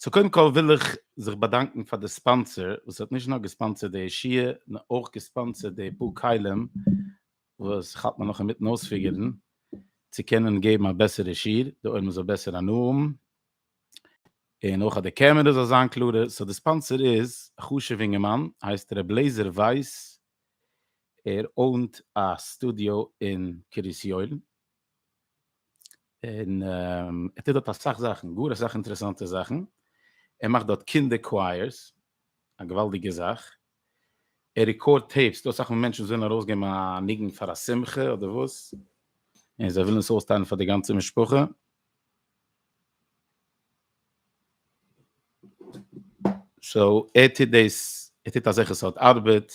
סאו קודם כל וויל איך זיך באדאנקן פאר די ספאנסער וואס האט נישט נאר געספאנסערט די ישיבה נאר אויך געספאנסערט די פאר כלים וואס כ'האלט מיר נאך אינמיטן אויספיגערן צו קענען געבן א בעסערע שיעור די עולם זאל בעסער הנאה האבן און אויך אז די קעמערע זאל זיין קלארער סאו די ספאנסער איז א חשוב'ע אינגערמאן הייסט ר' לעזער ווייס ער אוינט א סטודיאו אין קרית יואל און ער טוט דארט אסאך זאכן, גאר אסאך אינטערעסאנטע זאכן, ער מאכט דארט קינדער קווייערס, א געוואלדיגע זאך, ער רעקארד טעיפס, דא אסאך מאל מענטשן וואס ווילן ארויסגעבן א ניגון פאר א שמחה אדער וואס, און זיי ווילן עס אויסטיילן פאר די גאנצע משפחה. סאו ער טוט דאס, ער טוט אזעלכע סארט ארבעט,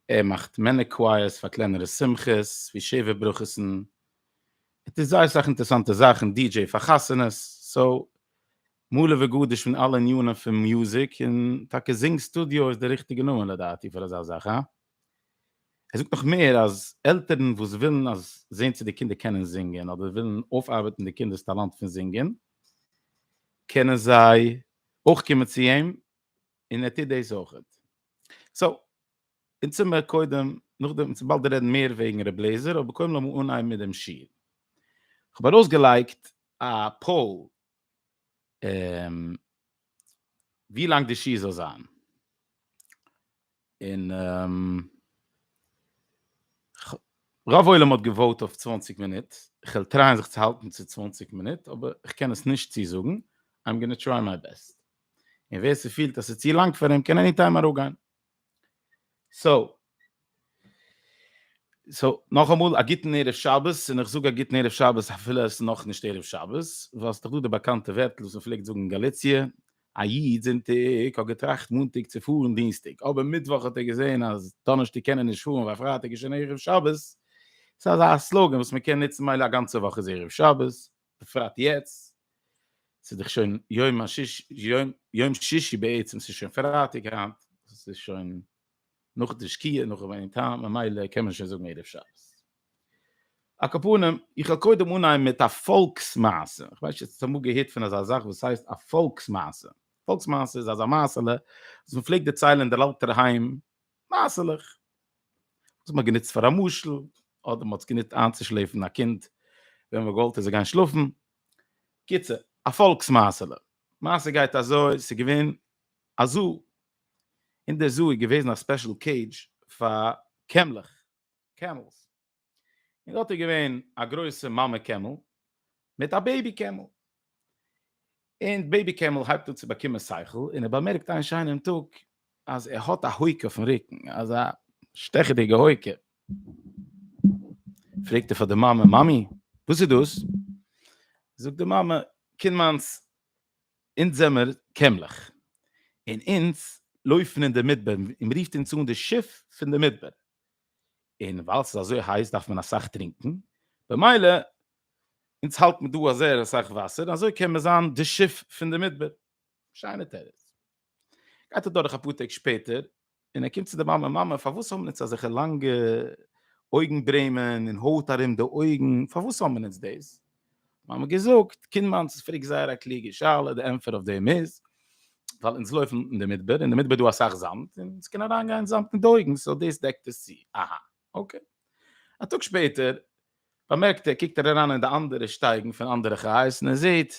ער מאכט מענער קווייערס פאר קלענערע שמחות ווי שבע ברכות'ן, ער טוט זייער סאך אינטערסאנטע זאכן, די-דזשעי פאר חתונות, סאו מלא וגדוש פון אלע ענינים פון מוזיק, און טאקע זינג סטודיאו איז די ריכטיגע נאמען לדעתי פאר אזא זאך, הא? ער זאגט נאך מער אז עלטערן וואס ווילן אז זען צו די קינדער קענען זינגען אדער ווילן אויפארבעטן די קינדער'ס טאלאנט פון זינגען קענען זיי אויך קומען צו אים און ער טוט דאס אויכעט. סאו, אונז טוה מיר קודם, נאכדעם, אונז באלד רעדן מער וועגן רב לעזער, אבער קודם לאמיר אנהייבן מיט דעם שיעור. כ'האב ארויסגעלייגט א פאול, ווי לאנג די שיעור זאל זיין. און רוב עולם האט געוואוט אויף צוואַנציק מינוט, כ'וועל טרייען זיך צו האלטן צו צוואַנציק מינוט, אבער כ'קען עס נישט צוזאגן, איים גאנא טריי מיי בעסט. און ווער ס'פילט אז ס'איז צו לאנג פאר אים קען עני טיים אראפגיין. סאו. סאו, נאכאמאל א גוטן ערב שבת, און איך זאג א גוטן ערב שבת אפילו עס איז נאכנישט ערב שבת, ווייל ס'איז דאך דא די באקאנטע ווערטל וואס מ'פלעגט זאגן אין גאליציע, א איד זונטאג האט געטראכט מאנטאג צו פארן דינסטאג, אבער מיטוואך האט ער געזען אז דאנערשטאג קען ער נישט פארן ווייל פרייטאג איז שוין ערב שבת. ס'איז אזא סלאגאן וואס מ'קען נוצן מילא א גאנצע וואך איז ערב שבת. בפרט יעצט, ס'איז דאך שוין יום השיש, יום, יום שישי בעצם, ס'איז שוין פרייטאג היינט, ס'איז שוין נאך די שקיעה, נאך ווערן טעם, ממילא קען מען שוין זאגן ערב שבת. על כל פנים, איך וועל קודם אנהייבן מיט א פאלקס מעשה, איך ווייס נישט אויב האסט אמאל געהערט פון אזא זאך וואס הייסט א פאלקס מעשה. פאלקס מעשה איז אזא מעשה'לע וואס מ'פלעגט דערציילען אין דער אלטער היים מעשה'לעך וואס מ'האט גענוצט פאר א משל, אדער מ'האט עס גענוצט איינצושלעפן א קינד ווען מ'וואלט עס זאל גיין שלאפן, קיצור, א פאלקס מעשה'לע. מעשה גייט אזוי, ס'איז געווען א זו, אין דער זו איז געוועזן א ספעשל קעידזש פאר קעמלעך, Camels, און דארט איז געווען א גרויסע מאמע קעמל מיט א בעיבי קעמל, און די בעיבי קעמל הייבט אן צו באקומען שכל, און ער באמערקט איין שיינעם טאג אז ער האט א הויק אויפן רוקן, אזא שטעכעדיגע הויק, פרעגט ער פאר די מאמע, מאמי וואס איז דאס? זאגט די מאמע, קינד מיינס, אונז זעמער קעמלעך, און אונז לויפן אין די מדבר, און מען רופט אונז אן די שיף פון די מדבר, און ווייל ס'איז אזוי הייס דארף מען אסאך טרינקען, במילא אונז האלט מען דא אזער אסאך וואסער, אזוי קען מען זיין די שיף פון די מדבר. שיינע תירוץ. גייט אדורך אפאר טעג שפעטער, און ער קומט צו די מאמע, מאמע פארוואס האבן אונז אזעלכע לאנגע אויגן ברעמען און הויט ארום די אויגן, פארוואס האבן אונז דאס? מיר האבן געזאגט, קינד מיינס איז פרעגט זייער א קלוגע שאלה, די ענטפער אויף דעם איז, ווייל אונז לויפן אין די מדבר, אין די מדבר איז דא אסאך זאמד, און עס קען אריין גיין זאמד אין די אויגן, סאו דאס דעקט עס צו, אהא, אקעי. א טאג שפעטער באמערקט ער, קוקט ער אריין אין די אנדערע שטייגן פון אנדערע חיות, און ער זעט,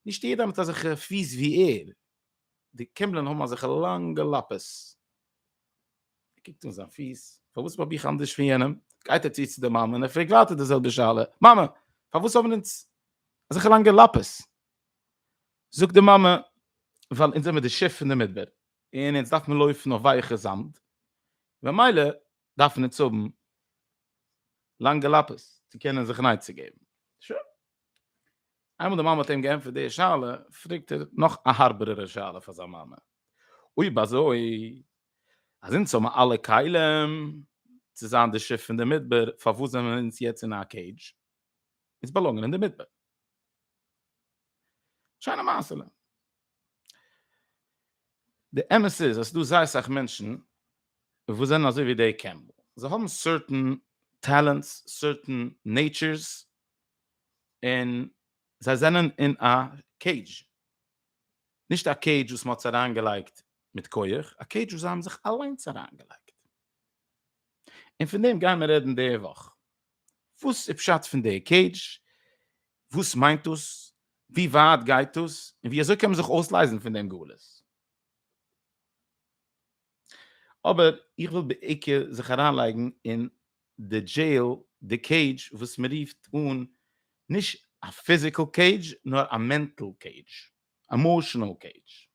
נישט יעדער האט אזעלכע פיס ווי ער, די קימבלען האבן אזעלכע לאנגע לאפעס. ער קוקט אן זיין פיס, פארוואס האב איך אנדערש פון יענעם? גייט ער צו צו די מאמע און ער פרעגט ווייטער די זעלבע שאלה, מאמע, פארוואס האבן אונז אזעלכע לאנגע לאפעס? זאגט די מאמע, ווייל אונז זעמיר די שיף פון די מדבר, און אונז דארף מען לויפן אויף ווייעכע זאמד, ממילא דארף מען עס האבן לאנגע לאפעס צו קענען זיך נייט צו געבן. שוין. איינמאל די מאמע האט אים געענטפערט די שאלה, פרעגט ער נאך א הארבערערע שאלה פאר זיין מאמע, אויב אזוי, אז אונז האבן אלע כלים צו זיין די שיף פון די מדבר, פארוואס זענען אונז יעצט אין א קעידזש? אונז באלאנגען אין די מדבר. שיינע מעשה'לע. די אמת איז אז ס'דא זייער אסאך מענטשן וואס זענען אזוי ווי דעי קעמפבעל, זיי האבן סערטען טעלענטס, סערטען נעיטשערס, און זיי זענען אין א קעידזש, נישט א קעידזש וואס מ'האט זיי אריינגעלייגט מיט כח, א קעידזש וואס זיי האבן זיך אליינס אריינגעלייגט. און פון דעם גיימער רעדן די וואך. וואס איז פשט פון די קעידזש? וואס מיינט דאס? ווי ווייט גייט דאס? און ווי אזוי קען מען זיך אויסלייזן פון דעם גלות? אבער איך וויל בעיקר זיך אריינלייגן אין די דזשעיל, די קעידזש וואס מען רופט אן נישט א פיזיקעל קעידזש נאר א מענטעל קעידזש, עמאשענעל קעידזש.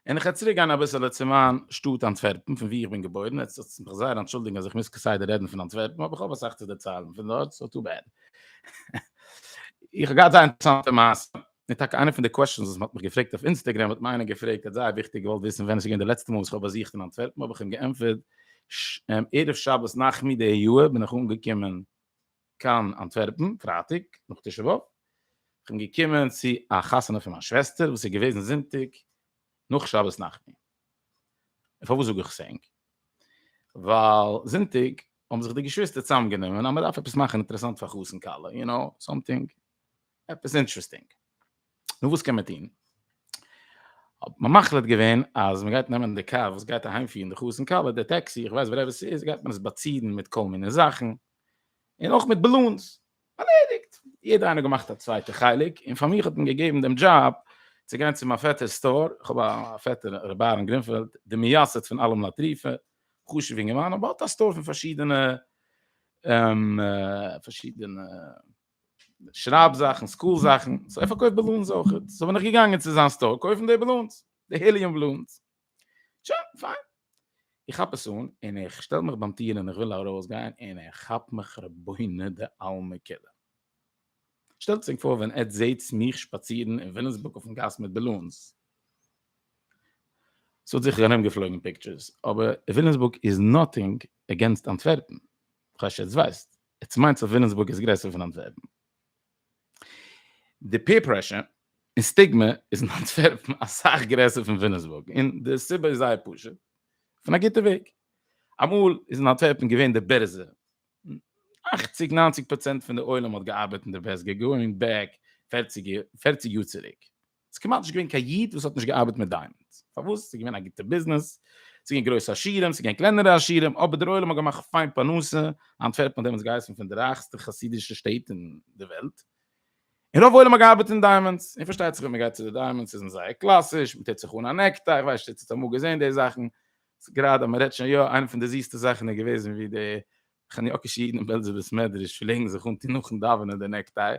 און איך וועל צוריק גיין אביסעלע צו מיין שטאט אנטווערפן פון וואו איך בין געבוירן, עטס זאלטס מיך זייער אנטשולדיגן אז איך מוז כסדר רעדן פון אנטווערפן אבער איך האב אסאך צו דערציילן פון דארט סאו טו בעד. איך האב געהאט זייער אינטערעסאנטע מעשה, און טאקע איינע פון די קוועשטענס וואס מען האט מיך געפרעגט אויף אינסטעגרעם האט מיר איינער געפרעגט ער האט זייער וויכטיג געוואלט וויסן ווען עס איז געווען די לעצטע מאל וואס איך האב באזוכט אין אנטווערפן האב איך אים געענטפערט ערב שבת נחמו די יאר בין איך אנגעקומען קיין אנטווערפן פרייטאג נאך תשעה באב, איך בין געקומען צו א חתונה פון מיין שוועסטער וואס איז געוועזן זונטאג נאך שבת נחמו. און פארוואס זאג איך עס ענק? ווייל זונטאג האבן זיך די געשוויסטער צוזאם גענומען אז מען דארף עפעס מאכן אינטערעסאנט פאר חתן כלה, יו נאו, סאמטינג, עפעס אינטערעסטינג. נו וואס קען מען טון? האט מען מחליט געווען אז מען גייט נעמען די קאר וואס גייט אהיימפירן די חתן כלה, די טעקסי, איך ווייס ווערעווער ס'איז, גייט מען עס באצירן מיט כל מיני זאכן, און אויך מיט בלונס. ארלעדיגט! יעדער איינער האט געמאכט א צווייטע חלק, און פאר מיך האט מען געגעבן דעם דזשאב צו גיין צו מיין פעטער'ס סטאר, איך האב א פעטער ר' אהרן גרינפעלד, די מייסד פון אלעם לטריפה, חשוב אינגערמאן, אבער האט א סטאר פון פארשידענע פארשידענע שרייב זאכן, סקול זאכן, סאו ער פארקויפט בלונס אויכעט, סאו בין איך געגאנגען צו זיין סטאר קויפן די בלונס, די היליום בלונס. שוין, פיין. איך כאפ עס אן און איך שטעל מיך ביים טיר און איך וויל ארויסגיין און ער כאפט מיך רבינו דעלמא כולא. שטעלט זיך פאר ווען עטץ זעטס מיך שפאצירן אין ווילימסבורג אויפן גאס מיט בעלונס. ס'וואלט זיכער ארומגעפלויגן פיקטשערס, אבער ווילימסבורג איז נאטינג עגענסט אנטווערפן. כאטש עטץ ווייסט, עטץ מיינט אז ווילימסבורג איז גרעסער פון אנטווערפן. די פעיר פרעשור און סטיגמע איז אין אנטווערפן אסאך גרעסער פון וויליאמסבורג און די סיבה איז זייער פשוט פון א גוטע וועג. אמאל איז אין אנטווערפן געווען די בערזע און אכציג ניינציג פראצענט פון די עולם האט געארבעט אין די וועסט געגענט בעק פערציג יאר צוריק. ס'איז כמעט נישט געווען קיין איד וואס האט נישט געארבעט מיט דיימאנדס, פארוואס? ס'איז געווען א גוטע ביזנעס, ס'איז געווען גרויסע עשירים, ס'איז געווען קלענערע עשירים, אבער דער עולם האט געמאכט פיין פרנסה, אנטווערפן האט דעמאלטס געהייסן פון די רייכסטע חסידישע שטעט אין די וועלט, און רוב עולם האט געארבעט אין דיימאנדס, און פארשטייט זיך ווען מ'גייט צו די דיימאנדס איז מען זייער קלאסיש, מ'טוט זיך אן א נעקטיי, כ'ווייס נישט צו איר האט אמאל געזען די זאכן, ס'גראדע מ'רעדט שוין יא, איינע פון די זיסטע זאכן איז געוועזן ווי די חניאקישע אידן אין בעלזער בית מדרש פלעגן זיך אנטון נאכן דאווענען די נעקטיי,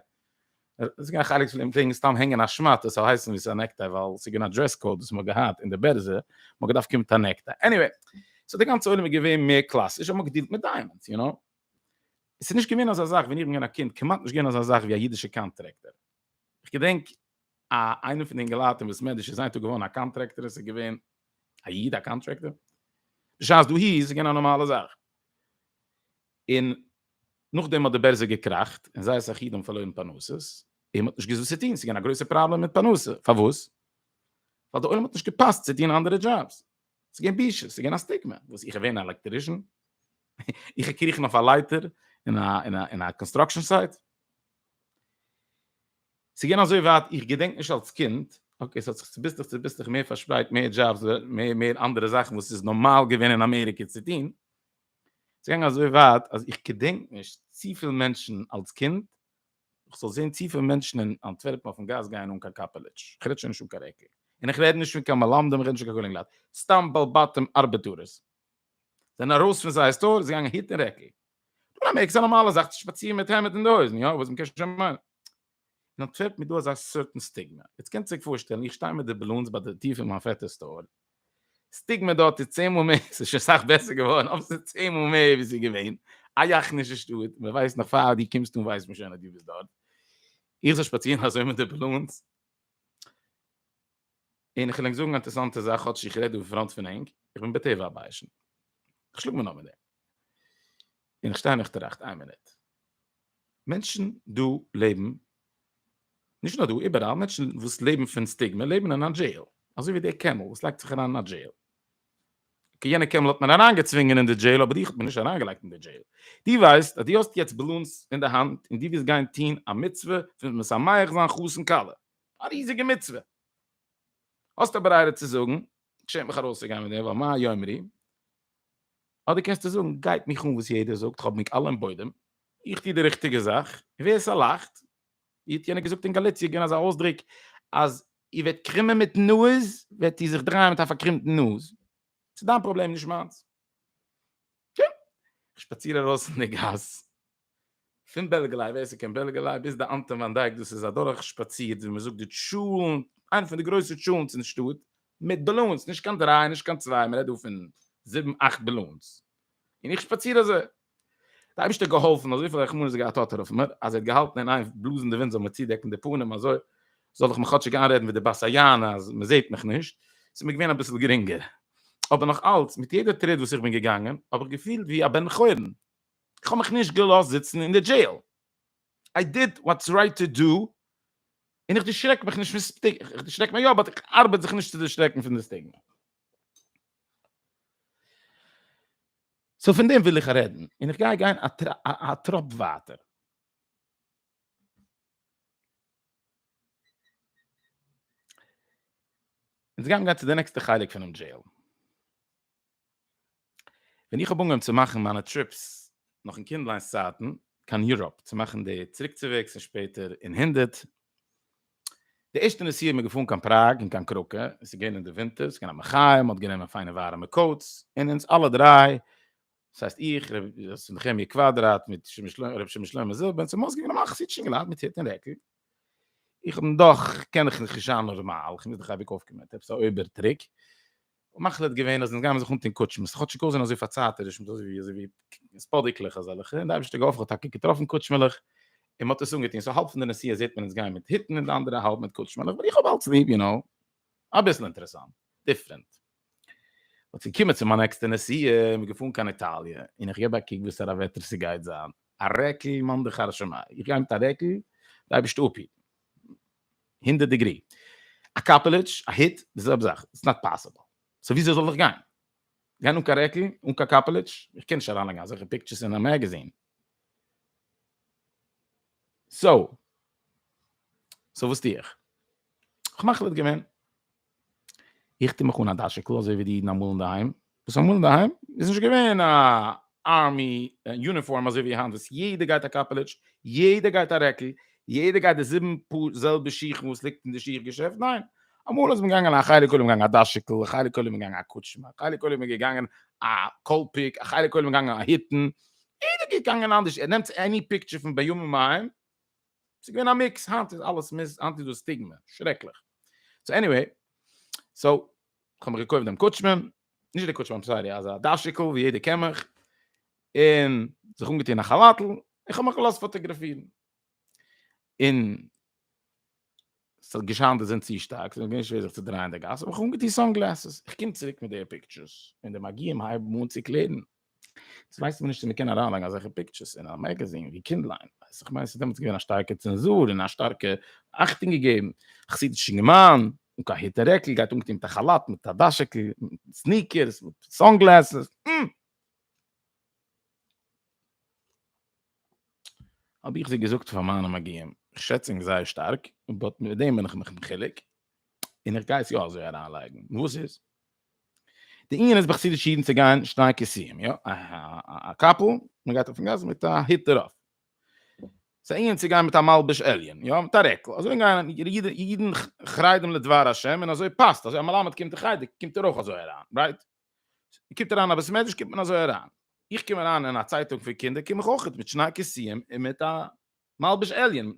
עס איז געווען חלק פון די פלעגן סתם הענגען א שמאט עס זאל הייסן ווי עס איז א נעקטיי ווייל עס איז געווען א דרעס קאוד וואס מען האט געהאט אין די בערזע, מען האט געדארפט קומען מיט א נעקטיי, עניוועי, סאו די גאנצע עולם איז געווען מער קלאסיש האט מען געדילט מיט דיימאנדס, יו נאו. עס איז נישט געווען אזא זאך ווען איך בין געווען א קינד, כמעט נישט געווען אזא זאך ווי א אידישע קאנטרעקטער, איך געדענק א איינער פון די אינגעלייט אין וואס מעדיש איז היינט טאג געווארן א קאנטרעקטער איז געווען א איד א קאנטרעקטער בשעת דאהי איז עס געווען א נארמאלע זאך און נאכדעם האט די בערזע געקראכט און זייערס א איד האבן פארלוירן פרנסות און מען האט נישט געוואוסט וואס צו טון עס איז געווען א גרויסע פראבלעם מיט פרנסה פארוואס ווייל די עולם האט נישט געפאסט צו טון אנדערע דזשאבס עס איז געווען בושה עס איז געווען א סטיגמע וואס איך ווער אן עלעקטרישן איך געקריכן אויף א לייטער אין א אין א אין א קאנסטראקשן סייט ס'איז געווען אזוי ווייט, איך געדענק נישט אלס קינד, אקעי ס'האט זיך צוביסלעך צוביסלעך מער פארשפרייט, מער דזשאבס, מער מער אנדערע זאכן וואס איז נארמאל געווען אין אמעריקע צו טון, ס'איז געגאנגען אזוי ווייט אז איך געדענק נישט צופיל מענטשן אלס קינד, איך זאל זען צופיל מענטשן אין אנטווערפן אויפן גאס גייען אן קיין קאפעלעטש, איך רעד שוין נישט אן קיין רעקל, און איך רעד נישט פון קיין מלמדים, איך רעד נישט פון קיין קאלעגן לייט, סתם בעל בתים ארבעטארערס, זענען ארויס פון זייער סטאר, זיי געגאנגען היט און רעקל. דא אמעריקע איז א נארמאלע זאך צו שפאצירן מיט העמד אין די הויזן, יא, וואס מ'קען שוין מיינען. אין אנטווערפן איז דא אזא סארטן סטיגמע. יעצט קענט זיך פארשטעלן, איך שטיי מיט די בעלונס ביי די טיר פון מיין פעטער'ס סטאר. סטיגמע דארט איז צען מאל מער, ס'איז שוין סאך בעסער געווארן, אבער ס'איז צען מאל מער ווי ס'איז געווען. א יאכנישע שטאט, מ'ווייסט נאך פאר דו קומסט אן ווייסט מען שוין אז דו ביסט דארט. איך זאל שפאצירן אזוי מיט די בעלונס? און איך וויל ענק זאגן א אינטערעסאנטע זאך, כאטש איך רעד דא אין פראנט פון ענק, איך בין בטבע א ביישן. איך שלאג מיר נאר מיט דעם. און איך שטיי און איך טראכט, איין מינוט. מענטשן דא לעבן, נישט נאר דא, איבעראל, מענטשן וואס לעבן פון סטיגמע לעבן אין א דזשעיל. אזוי ווי דער קעמל וואס לייגט זיך אריין אין א דזשעיל. אקעי, יענע קעמל האט מען אריינגעצווינגען אין די דזשעיל, אבער דיך האט מען נישט אריינגעלייגט אין די דזשעיל. דו ווייסט אז דו האסט יעצט באלונס אין די האנט און דו ווילסט גיין טון א מצוה פון משמח זיין חתן כלה. א ריזיגע מצוה. האסט א ברירה צו זאגן, כ'שעם מיך ארויסצוגיין מיט דעם ווייל מה יאמרו, אדער קענסטו זאגן, גייט מיך אן וואס יעדער זאגט, כ'האב ניק אלע אין בוידעם, איך טו די ריכטיגע זאך, און ווער ס'לאכט, ווי האט יענער געזאגט אין גאליציע געווען אזא אויסדרוק, אז איר וועט קרימען מיטן נאז, וועט איר זיך דרייען מיט א פארקרימטן נאז. ס'דיין פראבלעם נישט מיינס. יא, איך שפאציר ארויס אין די גאס, פון בעלגעליי, ווער ס'קען בעלגעליי, ביז די אנטון וואן דייק, דאס איז א דורך שפאציר, ווי מ'זאגט די טשולענט, איינע פון די גרויסע טשולענטס אין שטאט, מיט באלונס, נישט קיין דריי, נישט קיין צוויי, מ'רעדט דא פון זיבן אכט באלונס, און איך שפאציר אזוי, די אייבערשטער האט געהאלפן אז וויפיל רחמנות ער געהאט האט ער אויף מיר אז ער האט געהאלטן אין איין בלאזן די ווינט זאל מיר צודעקן די פנים אזוי זאל איך מיך כאטשיג איינרעדן ווי די בת היענה אז מען זעט מיך נישט ס'איז מיר געווען אביסל גרינגער אבער נאך אלץ מיט יעדע טריט וואס איך בין געגאנגען האב איך געפילט ווי א בן חורין איך האב מיך נישט געלאזט זיצן אין די דזשעיל איי דיד וואטס רייט טו דו און איך דערשרעק מיך נישט פון סטיגמע, איך דערשרעק מיך יא באט איך ארבעט זיך נישט צו דערשרעקן פון די סטיגמע. סאו פון דעם וויל איך רעדן, און איך גיי גיין א טראפ ווייטער. אונז גייען גיין צו די נעקסטע חלק פונעם דזשעיל. ווען איך האב אנגעהויבן צו מאכן מיינע טריפס נאך אין קינדליינס צייטן קיין יוראפ צו מאכן די צוריקצוועגס און שפעטער אין הונדערט, די ערשטע נסיעה האט מען געפארן קיין פראג און קיין קראקע, עס איז געווען אין די ווינטער, עס איז געווען א מחיה, מען האט גענומען פיינע ווארעמע קאוטס, און אונז אלע דריי, דאס הייסט איך, ר' נחמיה קוואדראט מיט ר' שמעון שלמה זיל, בן צמאס, געווען א מחזיק שינגעלייט מיט היט און רעקל. איך בין דאך, קען איך נישט רישאן נארמאל, איך מוז דאך אייביג אויפקומען מיט עפעס א אויבער טריק, האבן מחליט געווען אז אונז גיימיר זיך אנטון קוטשמעס, כאטשיג אויסזען אזוי פארצייטיש מיט אזוי ווי ספאדיקלעך אזעלכע, און די אייבערשטער געהאפן כ'האב טאקע געטראפן קוטשמעלעך, און מ'האט עס אנגעטון, סאו האלב פון די נסיעה זעט מען אונז גיין מיט היטן און די אנדערע האלב מיט קוטשמעלעך, ווייל איך האב אלץ ליב, יו נאו, אביסל אינטערעסאנט, דיפרענט. אט געקומען צו מיין נעקסטע נסיעה, מ'איז געפארן קיין איטאליע, און איך געב א קוק וואסארא וועטער ס'גייט זיין, א רעקל מאן דכר שמיה, איך גיי מיט א רעקל, די אייבערשטער אפהיטן. הונדערט דעגרי, א קאפעליטש, א היט, די זעלבע זאך, איטס נאט פאסיבל, סאו וויאזוי זאל איך גיין? גיין אן קיין רעקל? אן קיין קאפעליטש? איך קען נישט אריינלייגן אזעלכע פיקטשערס אין א מעגעזין. סאו, סאו וואס טו איך? כ'האב מחליט געווען. איך טו מיך אן א דאשיקל אזוי ווי די אידן אמאל אינדערהיים, וואס אמאל אינדערהיים איז נישט געווען א ארמי יוניפארם אזוי ווי היינט וואס יעדער גייט א קאפעליטש, יעדער גייט א רעקל, יעדער גייט די זיבן פאר זעלבע שיכן וואס ליגט אין די שיך געשעפט, ניין, אמאל איז מען געגאנגען א חלק עולם געגאנגען א דאשיקל, א חלק עולם איז געגאנגען א קוטשמע, א חלק עולם איז געגאנגען א קאלפיק, א חלק עולם איז געגאנגען א היטן, יעדער געגאנגען אנדערש, ער נעמט עני פיקטשער פון בימים ההם, ס'איז געווען א מיקס, היינט איז אלעס מיסט, היינט איז דא סטיגמע, שרעקליך. סאו עניוועי, סאו, כ'האב מיך געקויפט דעם קוטשמען, נישט דער קוטשמען, סארי, אזא דאשיקל ווי יעדער קען מיך, און זיך אנגעטון א כאלאטל, און כ'האב מיך געלאזט פאטאגראפירן. און עס האט געשיינט די זון צו שטארק, ס'איז מיר געווען שווער זיך צו דרייען אין די גאס, האב איך אנגעטון סאן גלעסעס, איך קום צוריק מיט די פיקטשערס, און די מגיהים הייבן אן צו קלערן, עס ווייסט מען נישט צו מען קען אריינלייגן אזעלכע פיקטשערס אין א מעגעזין ווי קינדליין, ווייסט, איך מיין עס איז דעמאלטס געווען א שטארקע צענזור און א שטארקע אכטונג געגעבן, א חסידישע געמיין, אן קיין היט און רעקל, גייט אנגעטון מיט א כאלאט, מיט א דאשעקל, מיט סניקערס, מיט סאן גלעסעס, אםמ. האב איך זיי געזאגט פאר מיינע מגיהים, איך שעץ ענק זייער שטארק, באט מיט דעם בין איך מיך מחולק, און איך גיי עס יא אזוי אריינלייגן, נו וואס איז? די ענין איז ביי חסידישע אידן צו גיין שני כיסויים, יא, א קאפל, מען גייט אויפן גאס מיט א היט דערויף, ס'איז א ענין צו גיין מיט א מלבוש עליון, יא, מיט א רעקל, אזוי גייען אידן חרדים לדבר השם און אזוי פאסט, אזוי א מלמד קומט אין חדר קומט ער אויך אזוי אריין, רייט? קומט אריין א בית מדרש קומט מען אזוי אריין, איך קום אריין אין א צייטונג פון קינדער קום איך אויך מיט שני כיסים און מיט א מלבוש עליון,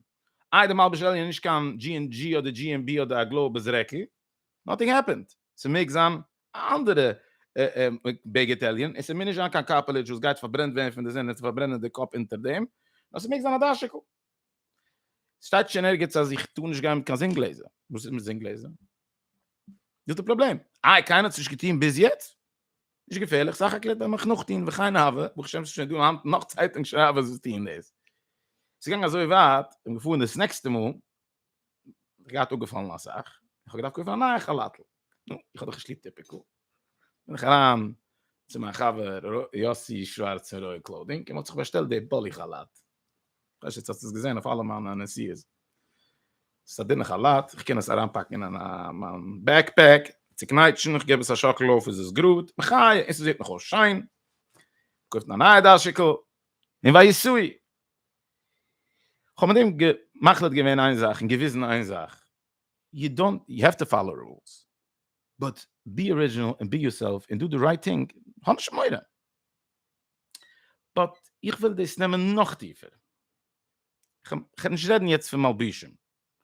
איי די מלבוש עליון איז נישט קיין דזשי ענד דזשי אדער דזשי ענד בי אדער א גלאובעס רעקל, נאטינג העפענד, ס'מעג זיין א אנדערע בגד עליון און ס'מוז נישט זיין קיין קארפעלעדזש וואס גייט פארברענט ווערן פון די זון און צו פארברענען די קאפ אונטער דעם, נאר ס'מעג זיין א דאשיקל, שטייט שוין ערגעץ אז איך טאר נישט גיין מיט קיין זון גלעזער. וואס איז מיט זון גלעזער? דאס איז די פראבלעם. איי, קיינער האט עס נישט געטון ביז יעצט? נישט געפערליך, סך הכל ווען מ'איז נאכטון וכהנה הוה, ברוך השם ס'איז שוין דא היינט נאך צייטונג שרייבערס וואס טוען דאס. ס'איז געגאנגען אזוי ווייט, כ'בין געפארן דאס נעקסטע מאל, געהאט אפגעפאלן אסאך, איך האב געדארפט קויפן א נייע כאלאטל, נו, איך האב דאך נישט ליב טיפיקל, בין איך אריין צו מיין חבר ר' יאסי שווארץ פון רויעל קלאודינג, אים האט זיך באשטעלט די באלי כאלאט, כ'ווייס נישט צו האסט עס געזען אויף אלע מיינע נסיעות, עס איז א דינע כאלאט, איך קען עס אריינפאקן אין מיין בעק פעק, צוקנייטשן, איך געב עס א שאקל אויף איז עס גראד, מחי', און ס'זעט נאך אויס שיין, מ'קויפט א נייע דאשיקל, און ויסעו, כ'האב מיט אים מחליט געווען איין זאך און געוויזן איין זאך, יו דאנט, יו העוו טו פאלאו רולס, באט בי ארידזשינעל און בי יורסעלף און דו די רייט טינג, האב נישט מורא. באט איך וויל דאס נעמען נאך טיפער, כ'קען נישט רעדן יעצט פון מלבישים,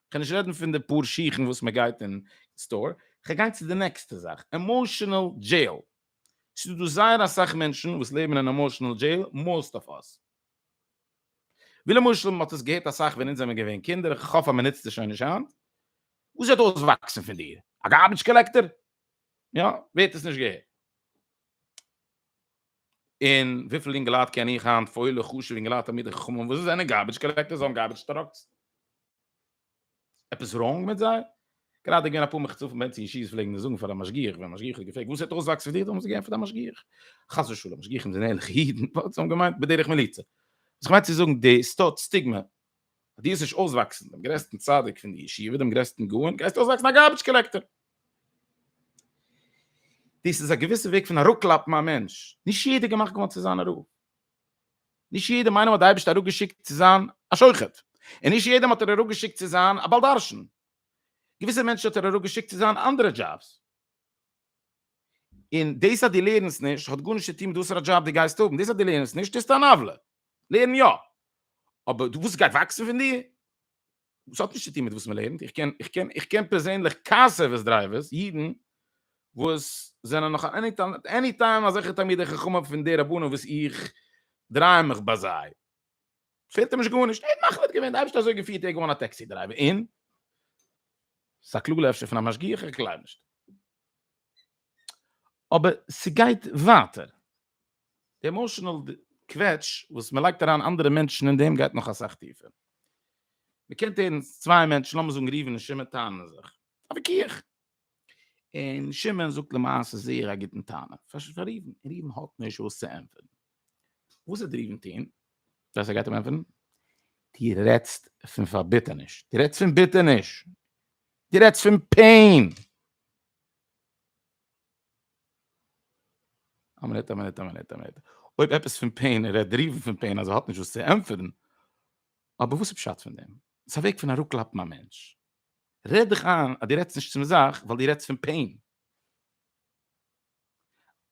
כ'קען נישט רעדן פון די פאר שיכן וואס מען גייט אין סטאר, כ'גיי צו די נעקסטע זאך, עמאשענעל דזשעיל. ס'איז דא זייער אסאך מענטשן וואס לעבן אין עמאשענעל דזשעיל, מאוסט אף אס. ווי למשל מען האט עס געהערט אסאך ווען אונז זעמיר געווען קינדער, איך האף אז מען נוצט עס שוין נישט היינט, וואס וועט אויסוואקסן פון דיר? א גארביטש קאלעקטער? יא, ווער האט עס נישט געהערט? און וויפיל אינגעלייט קען איך היינט, פוילע, חשוב'ע אינגעלייט, תלמידי חכמים וואס זענען גארביטש קאלעקטערס, זיי האבן גארביטש טראקס. עפעס ראנג מיט זיי? גראדע געווען אפאר מחצופים בעת אין שיז פלעגן זאגן פאר א משגיח ווען משגיח האט געפרעגט וואס האט אויסוואקס פאר דיר דארף מען זיך געבן פאר די משגיח חס ושלום משגיחים זענען ערליכע אידן וואס האבן געמיינט בדרך מליצה וואס כ'מיין צו זאגן די סטאט סטיגמע די איז נישט אויסוואקסן דעם גרעסטן צדיק פון די ישיבה דעם גרעסטן גאון גייסט אויסוואקסן א גארביטש קאלעקטער דאס איז א געוויסע וועג פון אראפקלאפן א מענטש נישט יעדער געמאכט געווארן צו זיין א רב נישט יעדעם איינעם האט די אייבערשטער אראפגעשיקט צו זיין א שוחט, און נישט יעדעם האט ער אראפגעשיקט צו זיין א בעל דרשן, געוויסע מענטשן האט ער אראפגעשיקט צו זיין אנדערע דזשאבס, און דאס אז דו לערנסט נישט האט גארנישט צו טון מיט וואסערע דזשאב דו גייסט האבן, דאס אז דו לערנסט נישט טוסטו אן עוולה, לערן יא, אבער וואס גייט וואקסן פון דיר? וואס האט נישט צוטון מיט וואס מען לערנט, איך קען איך קען איך קען פערזענליך קאסעוועס דרייווערס, אידן, וואס זענען נאך עני טיים עני טיים אזעלכע תלמידי חכמים פון די רבנים וואס איך דריי מיך ביי זיי, פעלט אים נישט גארנישט, ער האט מחליט געווען, די אייבערשטער האט אזוי געפירט, ער איז געווארן א טעקסי דרייווער, און? ס'איז א קלאגע אפשר פון א משגיח, איך גלייב נישט. אבער ס'גייט ווייטער. די עמאשענעל קוועטש וואס מען לייגט אריין אנדערע מענטשן אין דעם גייט נאך אסאך טיפער. מען קען הערן צוויי מענטשן, לאמיר זאגן ראובן און שמעון טענה'ן זיך, א וויכוח, און שמעון זאגט למעשה זייער א גוטן טענה פאר ראובן, און ראובן האט נישט וואס צו ענטפערן. וואס וועט ראובן טון ווען זיי גייט אים ענטפערן? דו רעדסט פון פארביטערניש, דו רעדסט פון ביטערניש, דו רעדסט פון פעין. א מינוט א מינוט א מינוט א מינוט אויב עפעס פון פעין רעדט דער ריבן פון פעין אז ער האט נישט וואס צו ענטפערן אבער וואס איז פשט פון דעם ס'איז א וועג פון אראפקלאפן א מענטש רעד דיך איין אז דו רעדסט נישט צום זאך ווייל דו רעדסט פון פעין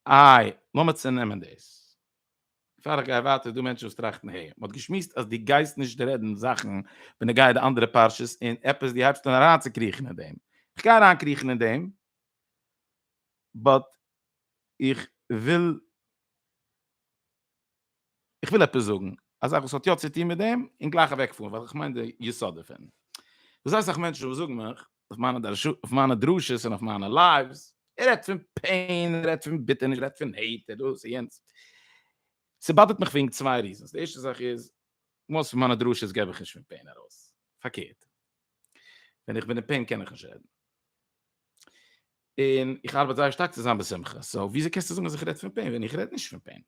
איי לאמיר צונעמען דאס פאר איך גיי ווייטער איז דא מענטשן וואס טראכטן העי מען האט געשמועסט אז דו גייסט נישט רעדן זאכן בנוגע די אנדערע פרשות און עפעס דו הייבסט אן אריינצוקריכן אין דעם איך גיי אריינקריכן אין דעם באט איך וויל איך וויל עפעס זאגן א זאך וואס האט יא צוטון מיט דעם און גלייך אוועקפארן ווייל איך מיין די יסוד דערפון וואס זיי סאך מענטשן וואס זאגן מיך אויף מיינע דרשות אויף מיינע דרשות און אויף מיינע לייווס ער רעדט פון פעין ער רעדט פון ביטערניש ער רעדט פון העיט דאס און יענץ ס'באדערט מיך וועגן צוויי ריזענס די ערשטע זאך איז מאסט פון מיינע דרשות געב איך נישט פון פעין ארויס פארקערט. ווען איך בין אין פעין קען איך נישט רעדן. און איך ארבעט זייער שטארק צו זיין בשמחה, סאו וויאזוי קענסטו זאגן אז איך רעד פון פעין ווען איך רעד נישט פון פעין?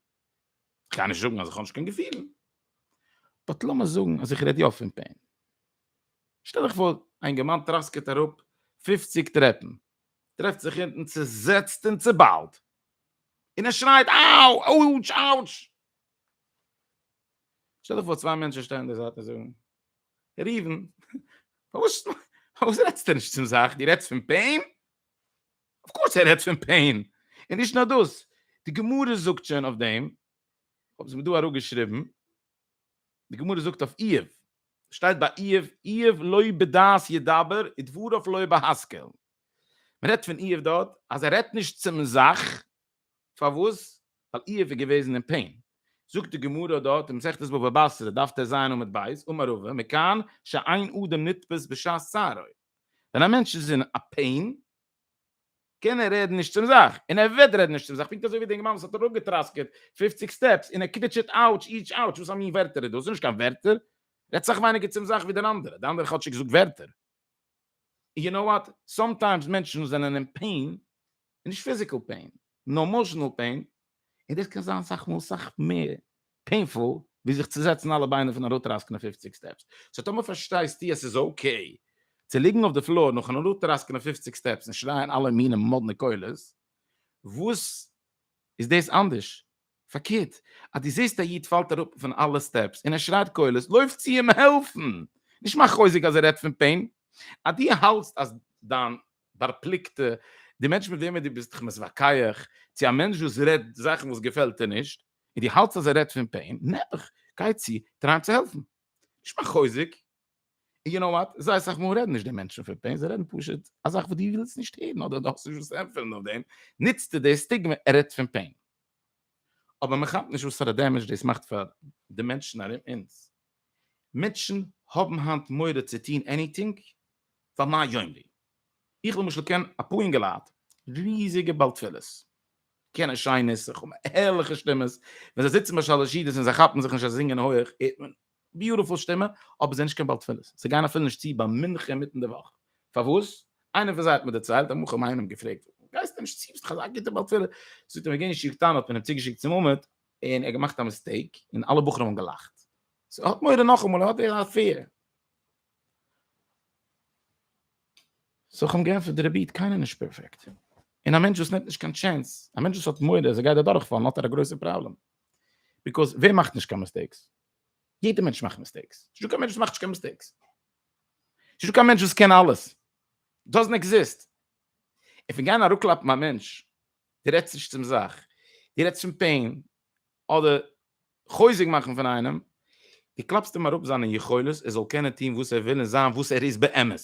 איך קען נישט זאגן אז איך האב נישט קיין געפילן, באט לאמיר זאגן אז איך רעד יא פון פעין. שטעל דיך פאר, א אינגערמאן טראסקעט אראפ פֿופֿציק טרעפן, טרעפט זיך אונטן צוזעצט און צוביילט, און ער שרייט אאו! אויטש! אאוטש! שטעל דיך פאר צוויי מענטשן שטייען אין די זייט און זאגן. ראובן, פארוואס פארוואס רעדסטו נישט צום זאך? דו רעדסט פון פעין? אויף קורס ער רעדט פון פעין. און נישט נאר דאס, די גמרא זאגט שוין אויף דעם, כ'האב עס מיר דא אראפגעשריבן, די גמרא זאגט אויף איוב, שטייט ביי איוב, איוב לא בדעת ידבר ודבריו לא בהשכל. מען רעדט פון איוב דארט אז ער רעדט נישט צום זאך, פארוואס? ווייל איוב איז געוועזן אין פעין. זאגט די גמרא דארט אין מסכת בבא בתרא דף טז עמוד ב', אמר רבא, מכאן שאין אדם נתפס בשעת צערו. ווען א מענטש איז אין א פעין, קען ער רעדן נישט צום זאך, און ער וועט רעדן נישט צום זאך, פונקט אזוי ווי די אינגערמאן וואס האט אראפגעטראסקעט פֿופֿציק סטעפס, און ער קוויטשעט אאוטש איטש אאוטש, וואס א מין ווערטער איז דאס, ס'איז נישט קיין ווערטער, רעדט סאך ווייניגער צום זאך ווי דער אנדערער, דער אנדערער האט כאטשיג געזאגט ווערטער. און יו נאו וואט, סאמטיימס מענטשן וואס זענען אין פעין, און נישט פיזיקעל פעין, נאר עמאשענעל פעין, און דאס קען זיין אסאך מאל אסאך מער פעינפול ווי זיך צו זעצן אלע ביינער פון אראפטראסקענען פופציג סטעפס, סאו טאמער פארשטייסטו אז ס'איז אקעי צו ליגן אויף די פלאר נאכן אראפטראסקענען פופציג סטעפס און שרייען אלע מיני מאדנע קולות, וואס איז דאס אנדערש? פארקערט, אז דו זעסט א איד פאלט אראפ פון אלע סטעפס און ער שרייט קולות, לויף צו אים העלפן! נישט מאך חוזק אז ער רעדט פון פעין, אז דו האלטסט אז דיין פארפליקטע, די מענטש מיט וועמען דו ביסט דיך מתווכח, צו א מענטש וואס רעדט זאכן וואס געפעלט דיר נישט, און דו האלטסט אז ער רעדט פון פעין, נעבעך, גיי צו, טריי אים צו העלפן. נישט מיין חוזק. און יו נאו וואט, זייער אסאך מאל רעדן נישט די מענטשן פון פעין, זיי רעדן פשוט א זאך וואס דו ווילסט נישט הערן, אדער דו האסט נישט וואס צו ענטפערן אויף דעם, נוצסטו די סטיגמע ער רעדט פון פעין. אבער מען כאפט נישט וואסארע דעמעדזש דאס מאכט פאר די מענטשן ארום אונז. מענטשן האבן היינט מורא צו טון עניטינג פאר מה יאמרו. איך למשל קען אפאר אינגעלייט, ריזיגע בעל תפילות, קענען שיין נוסח, האבן הערליכע שטימעס, ווען זיי זיצן ביי שלש ידות און זיי כאפן זיך נישט אז זיי זינגען הויעך הערט מען ביוטיפול שטימע, אבער זיי זענען נישט קיין בעל תפילות, זיי גייען אפילו נישט צו ביי מנחה אינמיטן די וואך. פארוואס? איינער פון זיי האט מיר דערציילט, אמאל כ'האב איינעם געפרעגט, פארוואס גייסטו נישט צו, ביסט דאך אזא גוטער בעל תפילה? זאגט ער, מ'גייט אין שיעור קטן האט מען אים צוגעשיקט צום עמוד, און ער האט געמאכט א מיסטעיק און אלע בחורים האבן געלאכט, סאו ער האט מורא נאכאמאל ער האט די אפעיר. סאו איך האב אים געענטפערט די רבי קיינער איז נישט פערפעקט, און א מענטש וואס נעמט נישט קיין טשענס, א מענטש וואס האט מורא אז ער גייט אדורכפאלן האט ער א גרויסע פראבלעם, ביקאוז ווער מאכט נישט קיין מיסטעיקס? יעדע מענטש מאכט מיסטעיקס, ס'איז נישטא קיין מענטש וואס מאכט נישט קיין מיסטעיקס, ס'נישטא קיין מענטש וואס קען אלעס, דאזענט עקזיסט, און פון גיין אראפקלאפן א מענטש די רעדסט נישט צום זאך, די רעדסט פון פעין, אדער חוזק מאכן פון איינעם, די קלאפסט אים אראפ זיינע יכולת ער זאל קענען טון וואס ער וויל און זיין וואס ער איז באמת.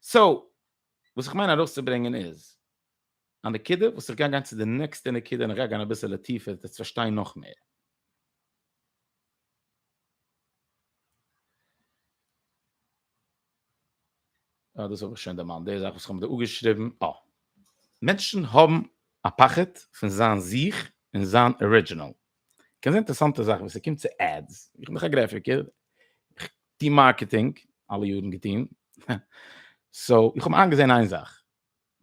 סאו וואס איך מיין ארויסצוברענגען איז. א נקודה וואס איך גיי גיין צו די נעקסטע נקודה און איך גיי גיין אביסעלע טיפער וועסט פארשטיין נאך מער. אה דאס האב איך שוין דערמאנט די זאך וואס איך האב דא אפגעשריבן אה מענטשן האבן א פחד פון זיין זיך און זיין ארידזשינעל. קען זיין אינטערעסאנטע זאך ווען ס'קומט צו עדס איך בין דאך א גרעפיקער איך טוה מארקעטינג אלע יארן געטון סאו איך האב איינגעזען איין זאך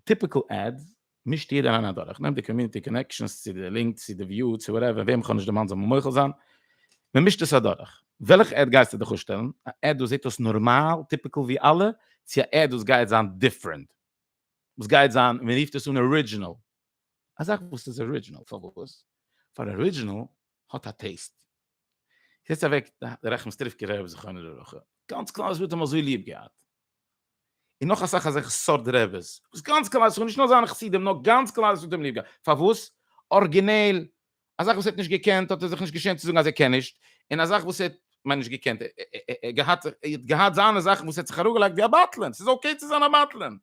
טיפיקל עדס, מישט יעדער איינער אדורך, נעמט די קאמיוניטי קאנעקשאנס צו די לינק צו די וויו צו וואטעווער, וועם כ'האב נישט דערמאנט זאל מיר מוחל זיין, מען מישט עס אדורך. וועלכע עד גייסטו דיך אפשטעלן? א עד וואס זעט אויס נארמאל טיפיקל ווי אלע, צו א עד וואס גייט זיין דיפרענט, וואס גייט זיין, מען רופט עס אן ארידזשינעל, א זאך וואס איז ארידזשינעל, פארוואס? פאר ארידזשינעל האט א טעיסט. זעצט אוועק די רחמסטריווקער רעבע זכרונו לברכה, גאנץ כלל ישראל האט אים אזוי ליעב געהאט, און נאך אסאך אזעלכע סארט רעבעס, וואס גאנץ כלל ישראל, נישט נאר זיינע חסידים, נאר גאנץ כלל ישראל האט אים ליעב געהאט, פארוואס? ארגינעל, א זאך וואס ער האט נישט געקענט, האט ער זיך נישט געשעמט צו זאגן אז ער קען נישט, און א זאך וואס ער האט, כ'מיין נישט געקענט, ער האט געהאט, ער האט געהאט זיינע זאכן וואס ער האט זיך אראפגעלייגט ווי א בטלן, ס'איז אקעי צו זיין א בטלן,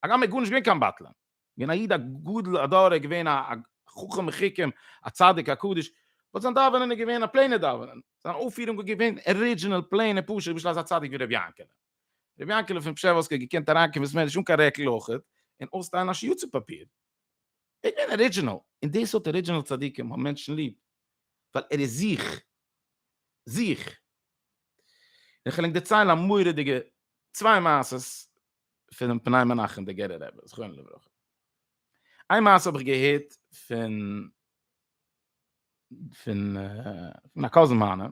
הגם ער איז גארנישט געווען קיין בטלן. געווען א איד א גדול הדור געווען א חכם מחכים א צדיק א קדוש באט זיין דאווענען איז געווען א פלעינע דאווענען זיין אויפירונג איז געווען ארידזשינעל פלעין פשוט נישט אזא צדיק ווי רבי יענקעלע רבי יענקעלע פון פשעווארסק איז געקענט אריינקומען אין סמעדרעש אן קיין רעקל אויכעט און אויסטיילן א שיעור צו פאפיר ער איז געווען ארידזשינעל און דאס האט ארידזשינעל צדיקים האבן מענטשן ליב ווייל ער איז זיך זיך און כ'על ענק דערציילן א מורא'דיגע צוויי מעשות פונעם פני מנחם דער גערער רבי זכרונו לברכה. איין מעשה האב איך געהערט פון פון פון א קאזין מיינע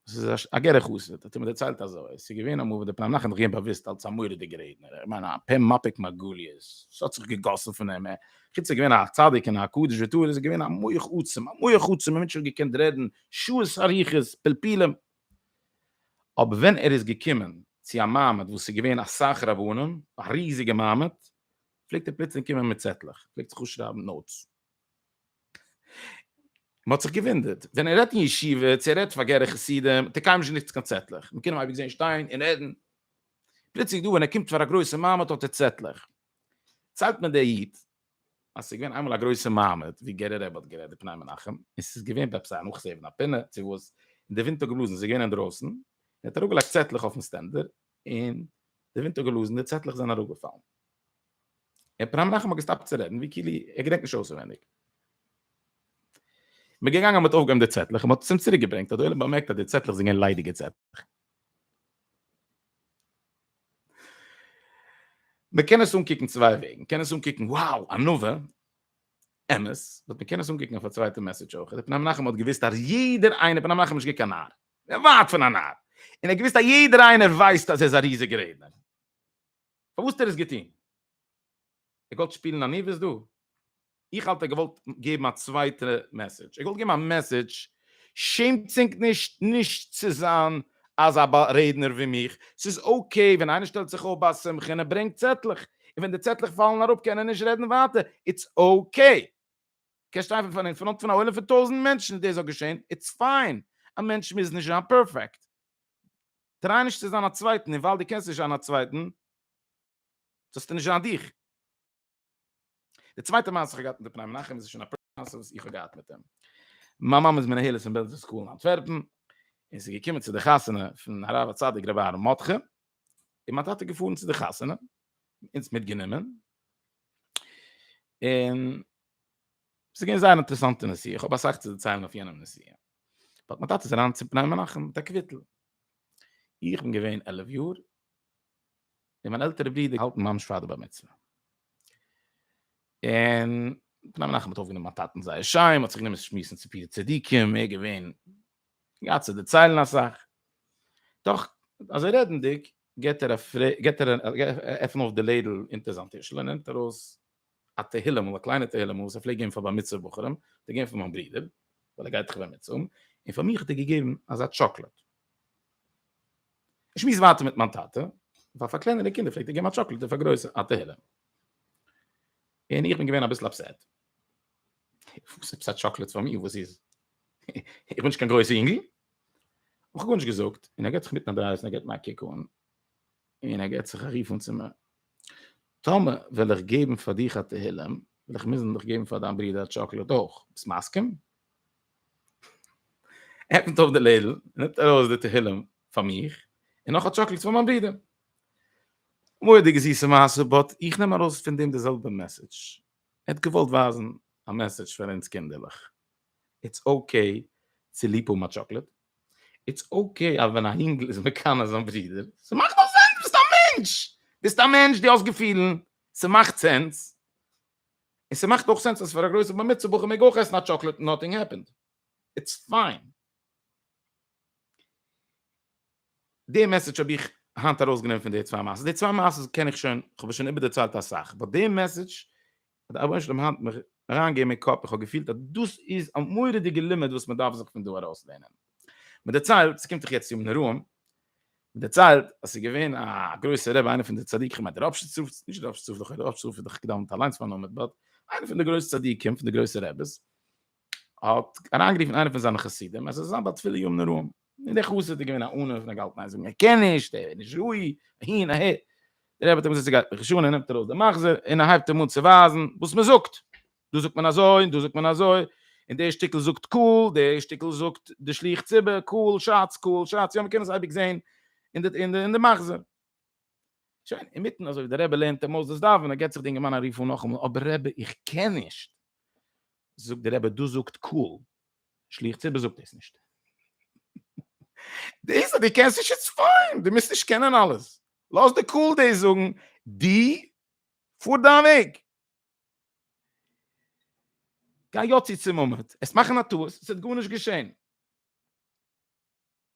עס איז א גערע חסיד, האט ער מיר דערציילט אזוי, עס איז געווען אמאל וואס דער פני מנחם האט זיך געגעבן באוואוסט אלס א מורא'דיגער רעדנער, איך מיין א פה מפיק מרגליות, עס האט זיך געגאסן פון אים, חוץ ער איז געווען א צדיק און א קדוש וטהור איז ער געווען א מח עצום, א מח עצום, א מענטש וואס האט געקענט רעדן שעות אריכות, פלפולים, אבער ווען ער איז געקומען צו א מעמד וואס איז געווען אסאך רבנים, א ריזיגע מעמד, פלעגט ער פלוצלינג קומען מיט צעטלעך, פלעגט זיך אפשרייבן נאוטס. מען האט זיך געוואונדערט, ווען ער רעדט אין ישיבה, צו ער רעדט פאר גערע חסידים, האט ער קיינמאל נישט גענוצט קיין צעטלעך, מען קען אים אייביג זען שטיין און רעדן. פלוצלינג דא ווען ער קומט פאר א גרויסע מעמד האט ער צעטלעך. ציילט מיר דער איד אז ס'איז געווען איינמאל א גרויסע מעמד ווי גערער רבי האט גערעדט די פני מנחם, און ס'איז געווען בעפ ס א נאכזעהן פון א פינה צו וואס, און די ווינט האט געבלאזן, ס'איז געווען אינדרויסן, און ער האט אראפגעלייגט צעטלעך אויפן סטענדער, און די ווינט האט געבלאזן, די צעטלעך זענען אראפגעפאלן. און פני מנחם האט געסטאפט צו רעדן, ווי כאילו ער געדענקט נישט אויסעווענדיג. מ'איז געגאנגען מ'האט אויפגעהויבן די צעטלעך און מ'האט עס אים צוריקגעברענגט, האט די עולם באמערקט אז די צעטלעך זענען געווען ליידיגע צעטלעך. מען קען עס אנקוקן צוויי וועגן, מען קען עס אנקוקן wow ענווה, אמת, באט מען קען עס אנקוקן אויף א צווייטע מעסעדזש אויך, רבי מנחם האט געוויסט אז יעדער איינער, רבי מנחם איז נישט געווען קיין נאר, ווייט פון א נאר, און ער האט געוויסט אז יעדער איינער ווייסט אז ער איז א ריזיגע רעדנער, פארוואס האט ער עס געטון? ער גאלט שפילן עניוות דא? איך האלט ער געוואלט געבן א צווייטע מעסעדזש, ער געוואלט געבן א מעסעדזש, שעמטס ענק נישט נישט צו זיין אזא בארעדנער ווי מיך, ס'איז אקעי ווען איינער שטעלט זיך אויף ביי א שמחה און ער ברענגט צעטלעך, און ווען די צעטלעך פאלן אראפ קען ער נישט רעדן ווייטער, איטס אקעי. קענסט שטיין פון אין פראנט פון א עולם פון טויזנט מענטשן און דאס זאל געשען, איטס פיין, א מענטש מוז נישט זיין פערפעקט. טריי נישט צו זיין א צווייטן, און ווייל דו קענסט נישט זיין א צווייטן זאלסטו נישט זיין דיך. די צווייטע מעשה איך געהאט מיט פני מנחם איז שוין א פרנסה וואס איך האב געהאט מיט אים. מיין מאמע איז מנהלת אין בעלזער סקול אין אנטווערפן, און זי געקומען צו די חתונה פון הרב הצדיק רבי אהרן מאטכע, און מיין טאטע איז געפארן צו די חתונה, אונז מיטגענומען, און עס איז געווען זייער אינטערעסאנטע נסיעה, איך האב אסאך צו דערציילן אויף יענעם נסיעה. באט מיין טאטע איז אריין צו פני מנחם מיט א קוויטל. איך בין געווען עלף יאר, און מיין עלטערע ברודער האלטן ממש פאר די בר מצוה. און פני מנחם האט אויפגענומען מיין טאטן זייער שיין, מ'האט זיך גענומען שמועסן צו פיר צדיקים, מער געווען געהאט צו דערציילן אסאך. דאך אזוי רעדנדיג געט ער א פרעג, געט ער א עפען אויף די לעדל אונטער זיין טישל און נעמט ארויס א תהילים'ל, א קליינע תהילים'ל וואס ער פלעגט געבן פאר בר מצוה בחורים, האט ער געבן פאר מיין ברודער, ווייל ער גייט דאך בר מצוה, און פאר מיך האט ער געגעבן אזא טשאקלאד. איך שמועס ווייטער מיט מיין טאטע, ווייל פאר קלענערע קינדער פלעגט ער געבן א טשאקלאד און פאר גרויסע א תהילים. און איך בין געווען אביסל אפסעט. וואס עפעס א טשאקלאד פאר מיר, וואס איז? איך בין נישט קיין גרויסע יונגל. איך האב גארנישט געזאגט, און ער געט זיך מיטן אדרייסן, ער געט מיר א קוק אן, און ער געט זיך א רוף אן צו מיר, טאמער וועל איך געבן פאר דיך א תהילים, וועל איך מוזן דיך געבן פאר דיין ברודער א טשאקלאד אויך, ביסט מסכים? עפנט אויף די לעדל, נעמט ארויס די תהילים פאר מיך, און נאך א טשאקלאד פאר מיין ברודער. מורא'דיגע זיסע מעשה, באט איך נעם ארויס פון דעם די זעלבע מעסעדזש, ער האט געוואלט ווייזן א מעסעדזש פאר אונז קינדערלעך, איטס אקעי צו ליב האבן א טשאקלאד, איטס אקעי אז ווען א אינגל איז מקנא זיין ברודער, ס'מאכט דאך סענס, דו ביסט א מענטש! דו ביסט א מענטש, דו האסט געפילן, ס'מאכט סענס. און ס'מאכט אויך סענס אז פאר א גרויסע בר מצוה בחור מעג אויך עסן א טשאקלעט און נאטינג העפענד. איטס פיין. די מעסעדזש האב איך היינט ארויסגענומען פון די צוויי מעשות. די צוויי מעשות קען איך שוין, כ'האב עס שוין איבערדערציילט אסאך. באט די מעסעדזש האט דער רבונו של עולם היינט מיך אריין געגעבן אין קאפ איך האב געפילט אז דאס איז א מורא'דיגע לימוד וואס מען דארף זיך פון דא ארויס לערנען, מען דערציילט, ס'קומט דאך יעצט ימים נוראים, מען דערציילט אז ס'איז געווען א גרויסער רבי איינער פון די צדיקים, כ'מיין דער ראפשיץ רב, נישט דער ראפשיץ רב, דער ראפשיץ רב איז דאך געדאווענט אליינס פארנומען, באט איינער פון די גרויסע צדיקים, פון די גרויסע רעבעס, האט אריינגערופן איינער פון זיינע חסידים, אז עס איז זיין בת תפלה יום נוראים, און דער חסיד איז געווען א אונן פון א געהאלטן איין זאגן ער קען נישט, ער איז נישט ראוי, אהין אהער, דער רבי האט אים געזאגט זי גייט מיך נישט אן, ער נעמט ארויס דעם מחזור און ער הייבט אים אן צו ווייזן וואס מען זאגט, דא זאגט מען אזוי און דא זאגט מען אזוי, און דער שטיקל זאגט קהל, דער שטיקל זאגט די שליח ציבור, קהל שאץ, קהל שאץ, יא מען קען עס אייביג זען אין די אין די מחזור. שוין, אין מיטן אזוי ווי דער רבי לערנט אים אויס דאס דאווענען, געט זיך די אינגערמאן א רוף אן נאכאמאל, אבער רבי, איך קען נישט. זאגט דער רבי, דאס זאגט קהל, שליח ציבור זאגט דאס נישט. דאס אז דו קענסט נישט איז פיין, דו מוזט נישט קענען אלעס. לאז די קהל דאס זאגן, דו פאר דיין וועג. גיי יא צו צום עמוד, עסט מאכן א טעות, עס האט גארנישט געשען.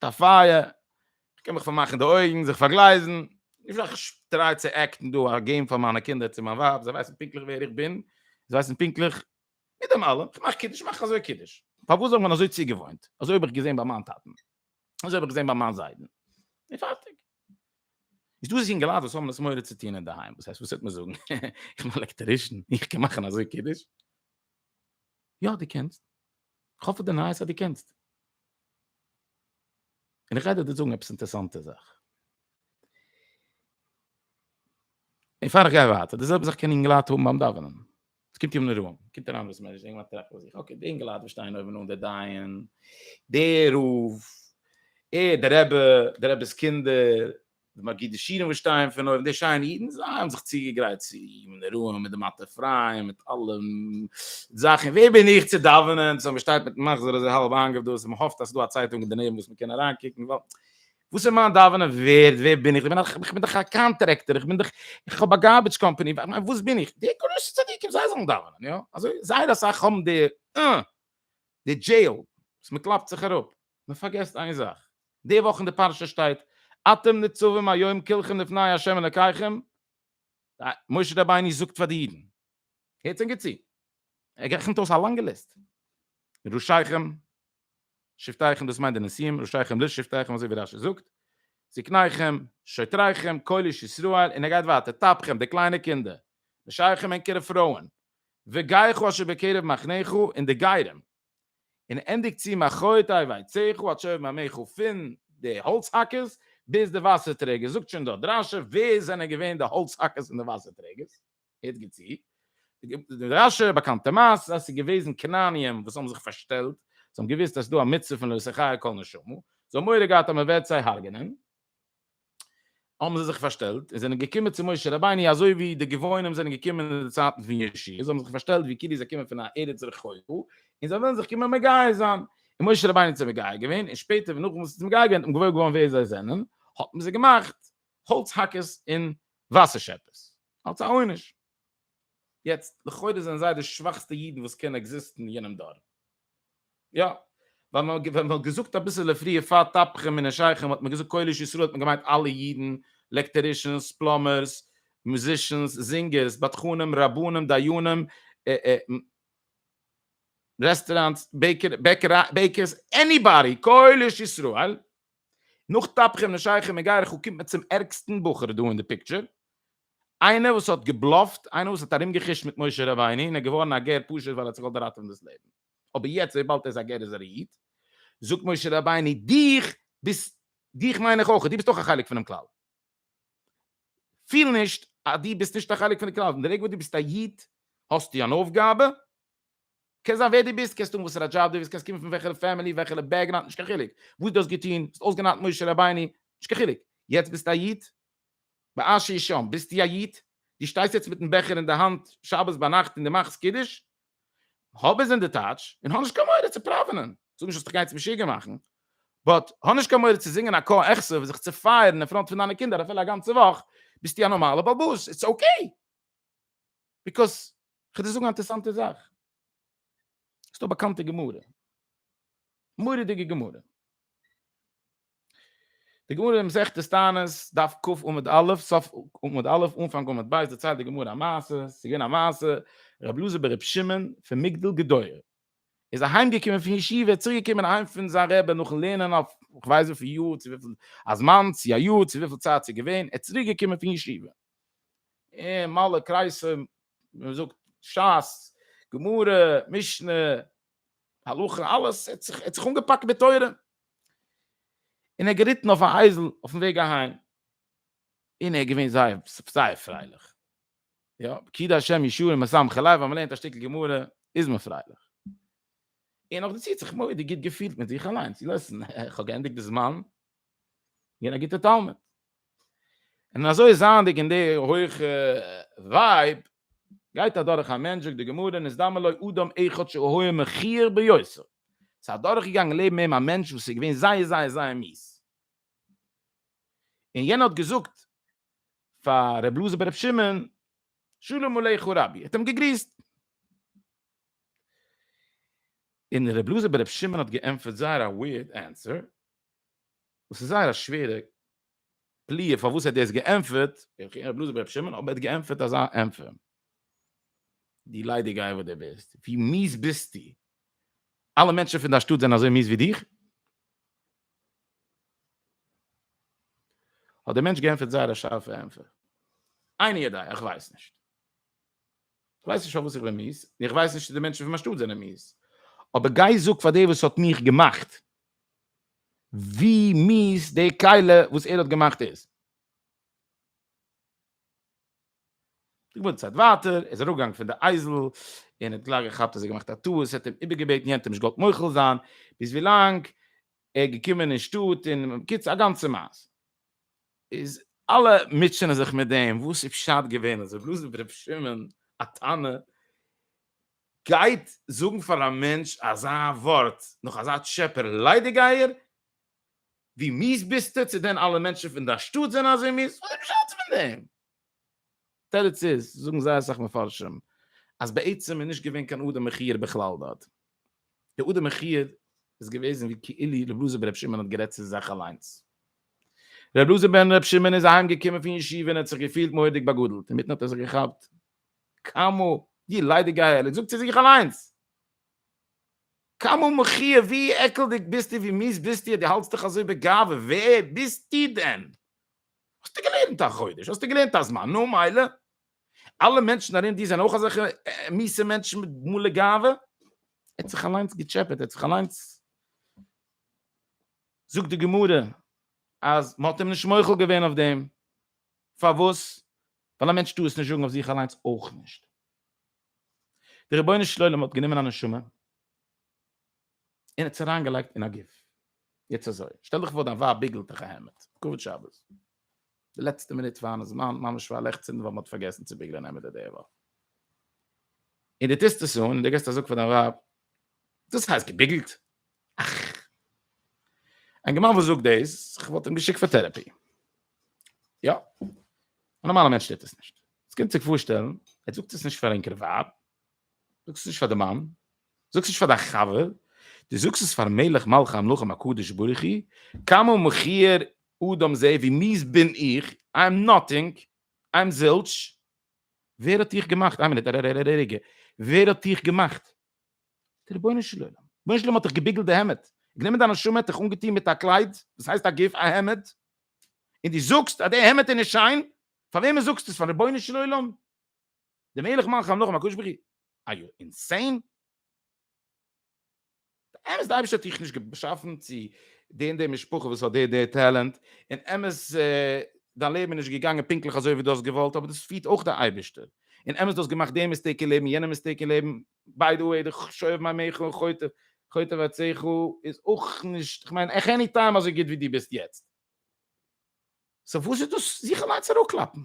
א פייער, איך קען מיך פארמאכן די אויגן, זיך פארגלייזן, איך טריי צו עקטן דא א געים פאר מיינע קינדער צו מיין ווייב, זיי ווייסן פונקטליך ווער איך בין, זיי ווייסן פונקטליך מיט דעם אלעם, איך מאך קידוש, מאך איך אזוי קידוש, פארוואס זאל מען אזוי צוגעוואוינט, אזוי האב איך געזען ביי מיין טאטן, אזוי האב איך געזען ביי מיין זיידן, און פארטיג. איז דא זינגעלייט וואס האבן עס מורא צו טון אינדערהיים, וואס הייסט וואס וועט מען זאגן, איך בין א עלעקטערישן, איך קען מאכן אזוי קידוש? יא דו קענסט. כ'האף פון די נייעס אז דו קענסט. און איך גיי דיר דא זאגן עפעס אינטערעסאנטע זאך. און פאר איך גיי ווייטער, די זעלבע זאך קען אינגעלייט האבן ביים דאווענען. עס קומט יום נראה, קומט אריין דאס מענטש, אינגעלייט טרעפן ביי זיך, אקעי, די אינגעלייט וואס שטייען אויבן אן, דער דיין, דער רב, ער, דער רבי, דער רבי'ס קינדער, די מגידי שירים וואס שטייען פון אויבן, די שיינע אידן, זיי האבן זיך צוגעגרייט צו אים, מיט נרו, מיט די מטה אפרים, מיט אלע זאכן, ווער בין איך צו דאווענען, סאו מ'שטייט מיטן מחזור אזוי האלב איינגעוודאוסט, און מ'האפט אז ס'איז דא א צייטונג אינדערנעבן וואס מ'קען אריינקוקן, ווייל וואס איז מיין דאווענען ווערד, ווער בין איך, איך בין דאך א קאנטרעקטער, איך בין דאך, איך האב א גארבידזש קאמפאני, וואס בין איך, די גרויסע צדיקים זיי זאלן דאווענען, יא, אזוי זייער אסאך האבן די אה, די דזשעיל, וואס מ'קלאפט זיך אראפ, מען פארגעסט איין זאך, די וואך אין די פרשה שטייט אתם נצבים היום כלכם לפני ה' אלקיכם, משה רבינו זאגט פאר די אידן, הערטס ענק צו, ער רעכנט אויס א לאנגע ליסט, ראשיכם שבטיכם דאס מיינט די נשיאים, ראשיכם לשבטיכם אזוי ווי רשי זאגט, זקניכם, שוטריכם, כל איש ישראל, און ער גייט ווייטער, טפחים, די קליינע קינדער, נשיכם, ענקערע פרויען, וגייכו אשר בקרב מחניך, און די גרים. און ענדיגט צו מחרתיי ויצאו עד שאובים עמיך פון די האלץ האקערס ביז די וואסער טרעגער, זאגט שוין דא דרשו ווער זענען געווען די האלץ האקערס און די וואסער טרעגערס, הערט גוט צו, די דרשו באקאנטע מעשה אז עס איז געוועזן כנעניים וואס האבן זיך פארשטעלט, זיי האבן געוואוסט אז עס איז דא א מצוה פון לא ישא חיי כל נשמה, זיי האבן מורא געהאט אז מען וועט זיי הרג'נען, האבן זיי זיך פארשטעלט און זענען געקומען צו משה רבינו אזוי ווי די גבעונים זענען געקומען אין די צייטן פון ישי זיי האבן זיך פארשטעלט ווי כאילו זיי קומען פון א ארץ רחוקה און זיי ווילן זיך קומען מגייר זיין און משה רבינו האט זיי מגייר געווען און שפעטער ווען נאך וואס איז מגייר געווען און געוואויר געווארן ווער זיי זענען האט מען זיי געמאכט האלץ האקערס און וואסער שעפערס אלס א עונש. יעצט לכאורה זענען זיי די שוואכסטע אידן וואס קען עקזיסטן אין יענעם דור. יא, ווייל מען ווען מען האט געזאגט אביסעלע פריער פאר תפוחים און עשייכם האט מען געזאגט קהלת ישראל האט מען געמיינט אלע אידן, לעקטערישענס, פלאמערס, מוזישענס, זינגערס, בדחנים, רבנים, דיינים, רעסטעראנטס, בעיקערס, עניבאדי, קהלת ישראל, נאך תפוחים און עשייכם און גייער ח ו קומט מען צום ערגסטן בחור דא אין די פיקטשער, איינער וואס האט געבלאפט, איינער וואס האט ארומגעכושט מיט משה רבינו און איז געווארן א גר פשוט ווייל ער האט זיך געוואלט ראטעווען דאס לעבן, אבער יעצט וויבאלד ער איז א גר איז ער א איד, זאגט משה רבינו דיך ביסט דיך מיין איך אויך, דו ביסט אויך א חלק פונעם כלל, פיל נישט אז דו ביסט נישט א חלק פון די כלל, פון די רגע וואס דו ביסט א איד האסטו אן אויפגאבע, קען זיין ווער דו ביסט, קענסט האבן וואסערע דזשאב דו ווילסט, קענסט קומען פון וועלכער פעמילי, וועלכער בעקגראונד, נישט קיין חילוק, וואס דו האסט געטון, האסט אויסגענארט משה רבינו, נישט קיין חילוק, יעצט ביסטו א איד, בעשי שם, ביסטו א איד? דו שטייסט יעצט מיטן בעכער אין די האנט שבת ביינאכט און דו מאכסט קידוש? האב עס אין די טאש, און האב נישט קיין מורא צו פראווענען. איך זאג נישט אז דיך גייטס משוגע מאכן, באט האב נישט קיין מורא צו זינגען א קה אכסוף און זיך צעפייערן אין פראנט פון דיינע קינדער אפילו א גאנצע וואך. ביסטו א נארמאלע בעל בית, איטס אקעי. ביקאז, כ'וועל דיר זאגן א אינטערעסאנטע זאך. ס'דא א באקאנטע גמרא, מורא'דיגע גמרא. די גמרא אין מסכת תענית, דף ק עמוד א', סוף עמוד א', אנפאנג עמוד ב', דערציילט די גמרא א מעשה, עס איז געווען א מעשה, רבי אלעזר בן רבי שמעון פון מגדל גדור, איז אהיים געקומען פון ישיבה, צוריק געקומען אהיים פון זיין רבי נאכן לערנען אויף כ'ווייס וויפיל יאר, צו וויפיל א זמן, צו א יאר, צו וויפיל צייט ס'איז געווען, ער איז צוריק געקומען פון ישיבה, און מלא קרייסער, ווי מ'זאגט, שס, גמרא, משנה, הלכה אלעס, ער האט זיך אנגעפאקט מיט תורה, און ער איז געריטן אויף א אייזל אויפן וועג אהיים, און ער איז געווען זייער זייער פרייליך, יא, כי די השם ישועה משמחה לב, אז מען לערנט א שטיקל גמרא איז מען פרייליך, און נאכדערצו האט זיך מודי גוט געפילט מיט זיך אליינס, ליסן, איך האב געענדיגט די זמן, געווען א גוטער תלמיד, און אזוי זייענדיג אין די הויכע ווייב, גייט אדורך א מענטש, זאגט די גמרא, נזדמן לו אדם אחד שהיה מכיר ביותר, ס'איז אדורך געגאנגען לעבן אים א מענטש וואס איז געווען זייער זייער זייער מיעס, און יענער האט געזאגט פאר ר' אלעזר בן ר' שמעון, שלום עליך רבי, האט אים געגריסט, און ר' אלעזר בן ר' שמעון האט געענטפערט זייער א ווירד ענטפער, וואס איז זייער א שווערע פליאה פארוואס ער האט דאס געענטפערט, איך הער בלויז אויף ר' שמעון אבער ער האט געענטפערט אזא ענטפער. דו ליידיגייער וואס דו ביסט, ווי מיס ביסטו? אלע מענטשן פון דיין שטאט זענען אזוי מיס ווי דיך? האט דער מענטש געענטפערט זייער א שארפע ענטפער, עיני ידי, איך ווייס נישט. איך ווייס נישט פארוואס איך בין מיס, און איך ווייס נישט צו די מענטשן פון מיין שטאט זענען מיס. אבער גיי זאג פאר דער וואס האט מיך געמאכט, ווי מיס די כלה וואס ער האט געמאכט איז. די גמרא צייט ווייטער, ער איז אראפגעגאנגען פון די אייזל, און האט גלייך געכאפט אז ער האט געמאכט א טעות, האט אים איבערגעבעטן, יענטער האט נישט געוואלט מוחל זיין, ביז ווי לאנג ער איז געקומען אין שטאט, און בקיצור א גאנצע מעשה. איז אלע מוטשענען זיך מיט דעם, וואס איז פשט געווען, אז ער האט געלאזט ר' שמעון א טענה, גייט זאגן פאר א מענטש אזא ווארט נאך אזא טשעפער ליידיגייער? ווי מיס ביסטו? צו דען אלע מענטשן פון דיין שטאט זענען אזוי מיס? וואס איז פשט פון דעם? תירוץ איז, זאגן זייער אסאך מפרשים, אז בעצם איז נישט געווען קיין אדם מכיר בכלל דארט. דער אדם מכיר איז געוועזן ווי כאילו רב לוזער בן רבי שמעון האט גערעדט צו זיך אליינס. רב לוזער בן רבי שמעון איז אהיים געקומען פון ישיבה און ער האט זיך געפילט מורא'דיג באגאדלט, אינמיטן האט ער זיך געכאפט כמה, די ליידיגייער, ער זאגט צו זיך אליינס. כמה מחי', ווי עקלדיג ביסטו, ווי מיס ביסטו, די האלטסט דיך אזוי בגאווה, ווער ביסטו דען? האסטו געלערנט א חודש, האסטו געלערנט א זמן, נו מילא. אלע מענטשן ארום דיר זענען אויך אזעלכע מיסע מענטשן מיט מלא גאווה? ער האט זיך אליינס געטשעפעט, ער האט זיך אליינס. זאגט די גמרא אז מ'האט אים נישט מוחל געווען אויף דעם. פארוואס? ווייל א מענטש טאר עס נישט זאגן אויף זיך אליינס אויך נישט. דער רבונו של עולם האט גענומען א נשמה און האט עס אריינגעלייגט אין א גוף. יעצט אזוי, שטעל דיך פאר דיין ווייב ביגלט דיך א העמד, כבוד שבת, די לעצטע מינוט פארן איז זמן, ממש פאר לעכצן ווייל מען האט פארגעסן צו ביגלען העמעדער די וואך, און די טוסט עס אן און די געסט א זאג פאר דיין ווייב, דאס הייסט געביגלט? אין גמאן וואס זאגט דאס כ'וואלט אים געשיקט פאר טערעפי יא א נארמאלע מענטש טוט עס נישט עס קומט זיך פארשטעלן ער זאגט עס נישט פאר ענקערע ווייב זאגט עס נישט פאר די מאן זאגט עס נישט פאר דיין חבר די זאגסט עס פאר מלך מלכי המלכים הקדוש ברוך הוא כמה מכיר אדם זה ווי מיז בין איך איי עם נאטינג איי עם זילטש ווער האט דיך געמאכט איין מינוט רגע ווער האט דיך געמאכט די רבונו של עולם רבונו של עולם האט דיך געביגלט די העמד איך נעם דיין נשמה האט דיך אנגעטוהן מיט א קלייד וואס הייסט א גוף א העמד און די זאגסט אז די העמד איז נישט שיין פאר וועמען זאגסטו עס פאר רבונו של עולם די מלך מלכי המלכים הקדוש ברוך הוא אר יו אינסיין אמת די אייבערשטער האט דיך נישט געשאפן צו די און די משפחה וואס האט די די טעלענט און אמת דיין לעבן איז נישט געגאנגען פונקטליך אזוי ווי דו האסט געוואלט אבער דאס פירט אויך די אייבערשטער און אמת דו האסט געמאכט די מיסטעיק אין לעבן און יענע מיסטעיק אין לעבן, ביי די וועי די שואב מים עיך און חוטב עצתיך איז אויך נישט כ'מיין עכ עני טיים אזוי גוט ווי דו ביסט יעצט, סאו וואס איז דאס זיך אליינס אראפקלאפן?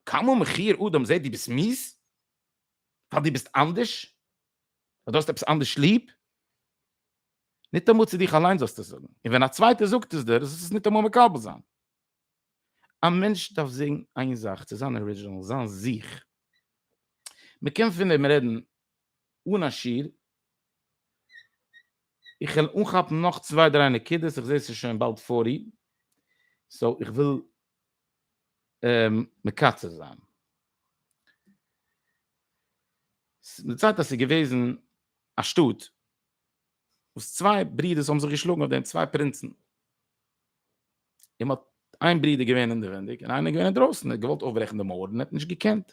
כמה מחיר אדם זעט דו ביסט מיס ווייל דו ביסט אנדערש? ווייל דו האסט עפעס אנדערש ליב? ניטאמאל צו דיך אליינס זאלסטו עס זאגן, און ווען א צווייטער זאגט עס דיר זאלסטו עס ניטאמאל מקבל זיין. א מענטש דארף זען איין זאך צו זיין ארידזשינעל, זיין זיך. מען קען פון דעם רעדן אן א שיעור, איך וועל אנכאפן נאך צוויי דריי נקודות, איך זע ס'איז שוין באלד פארטי, סאו איך וויל מקצר זיין. די צייט אז ס'איז געוועזן א שטאט וואס צוויי ברודערס האבן זיך געשלאגן אויף דעם, צוויי פרינצן, און מען האט איין ברודער געווען אינדערווענדיג און איינער געווען אינדרויסן, ער האט געוואלט אויפברעכן די מויער און ער האט נישט געקענט.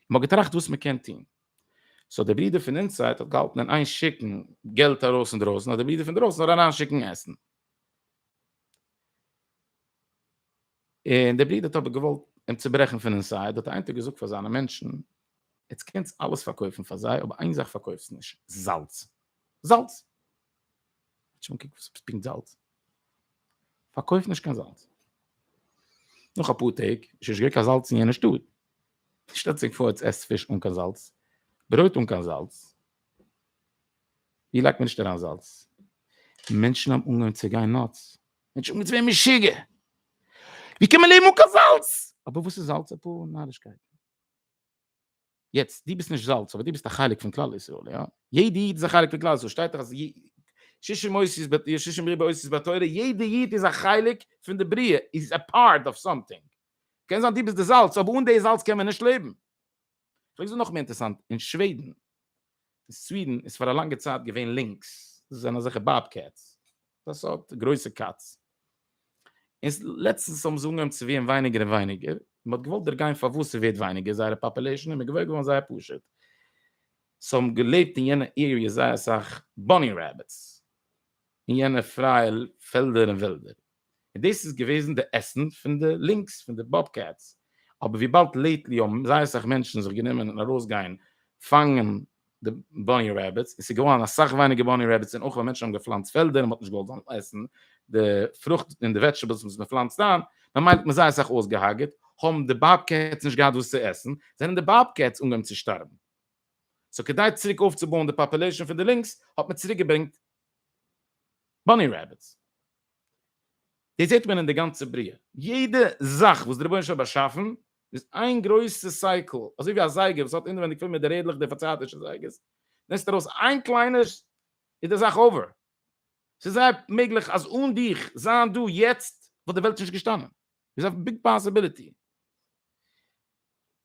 מען האט געטראכט וואס מען קען טון. סאו דער ברודער פון אינסייד האט געהאלטן אין איין שיקן געלט ארויס אינדרויסן אז דער ברודער פון דרויסן זאל אריין שיקן עסן. און דער ברודער האט אבער געוואלט אים צוברעכן פון אינסייד, האט ער איין טאג געזאגט פאר זיינע מענטשן, עטס קענטס אלעס פארקויפן פאר זיי אבער איין זאך פארקויפטס נישט, זאלץ! זאלץ! שוין קוק וואס עפעס פינקט זאלץ. פארקויף נישט קיין זאלץ. נאך אפאר טעג איז שוין נישט געווען קיין זאלץ אין יענע שטאט. שטעלט זיך פאר עטס עסט פיש אן קיין זאלץ, ברויט אן קיין זאלץ. ווי לייגט מען נישט אריין זאלץ? מענטשן האבן אנגעהויבן צו גיין נאטס. מענטשן האבן געווען משוגע. ווי קען מען לעבן אן קיין זאלץ? אבער וואס איז זאלץ? אפאר נארישקייטן. יעצט, דו ביסט נישט זאלץ, אבער דו ביסט א חלק פון כלל ישראל, יא? יעדע איד איז א חלק פון כלל ישראל, שטייט דאך אז ששים מוסיף ב י ששים ריבע עושות בתורה, יעדע איד איז א חלק פון די בריאה, איז א פארט אוו סאמטינג. קען זיין דו ביסט די זאלץ, אבער אן די זאלץ קען מען נישט לעבן. איך זאג נאך מער אינטערעסאנט, אין שוועדן, אין סווידן איז פאר א לאנגע צייט געווען לינקס, דאס זענען אזעלכע באב קעטס, א סארט גרויסע קאץ, און לעצטנס האבן זיי אנגעהויבן צו ווערן ווייניגער און ווייניגער, און מ'האט געוואלט דערגיין פארוואס ס'ווערט ווייניגער זייערע פאפולעישן, און מ'איז געוואויר געווארן זייער פשוט, ס'האבן געלעבט אין יענע עריעס זייער אסאך באני רעביטס אין יענע פרייע פעלדער און וועלדער. און דאס איז געוועזן די עסן פון די לינקס פון די באב קעטס, אבער וויבאלד לעיטלי האבן זייער אסאך מענטשן זיך גענומען ארויסגיין פאנגען די באני רעביטס און ס'איז געווארן אסאך ווייניגער באני רעביטס און אויך ווייל מענטשן האבן געפלאנצט פעלדער און מ'האט נישט געוואלט זאלן עסן די פרוכט און די וועדזשטעבלס וואס מ'פלאנצט איין, ממילא האט מען זייער אסאך אויסגעהארגעט, האבן די באב קעטס נישט געהאט וואס צו עסן, זענען די באב קעטס אנגעהויבן צו שטארבן. סאו כדי צוריק אויפצובויען די פאפולעישאן פון די לינקס האט מען צוריקגעברענגט באני רעביטס. דאס זעט מען אין די גאנצע בריאה, יעדע זאך וואס דער רבונו של עולם האט באשאפן איז איין גרויסע סייקל, אזוי ווי א זייגער וואס האט אינעווייניג פול מיט די רעדלעך די פארצייטישע זייגערס, נעמסטו ארויס איין קליינע איז די זאך אווער, ס'איז זייער מעגליך אז אן דיך זיין דא יעצט וואלט די וועלט נישט געשטאנען, איז א ביג פאסיביליטי.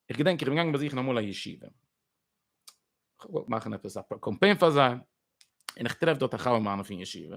איך געדענק איך בין געגאנגען באזוכן אמאל א ישיבה, כ'וואלט מאכן עפעס א קאמפיין פאר זיי, און איך טרעף דארט א חבר מיינע פון ישיבה,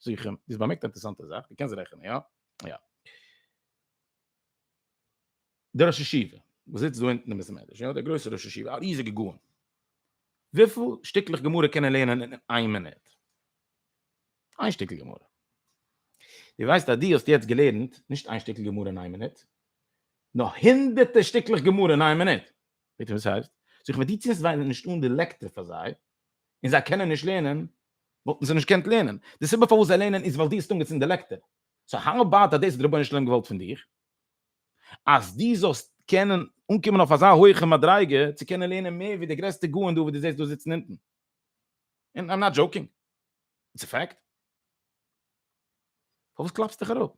זיך אים, איז באמערקט א אינטערעסאנטע זאך, דו קענסט רעכענען, יא? יא. דער ראש ישיבה, וואס זיצט דא אונטן אין בית המדרש, יא, דער גרויסער ראש ישיבה, א ריזיגער גאון, וויפיל שטיקלעך גמרא קען ער לערנען אין איין מינוט? איין שטיקל גמרא. דו ווייסט אז דו האסט יעצט געלערנט נישט איין שטיקל גמרא אין איין מינוט, נאר הונדערטער שטיקלעך גמרא אין איין מינוט. זעט איר וואס ס'הייסט? סאו כ'מיין דו צינדסט זיי נישט אן די לעקטער פאר זיי, און זיי קענען נישט לערנען וואלטן זיי נישט געקענט לערנען, די סיבה פארוואס זיי לערנען איז ווייל דו האסט אנגעצינדן די לעקטער, סאו האו אבאוט אז דאס האט די רבונו של עולם געוואלט פון דיר, אז דו זאלסט קענען אנקומען אויף אזא הויכע מדריגה צו קענען לערנען מער ווי די גרעסטע גאון דא וואס דו זעסט דא זיצן אונטן, און איים נאט דזשאוקינג, איטס א פעקט. פארוואס קלאפסטו דיך אראפ?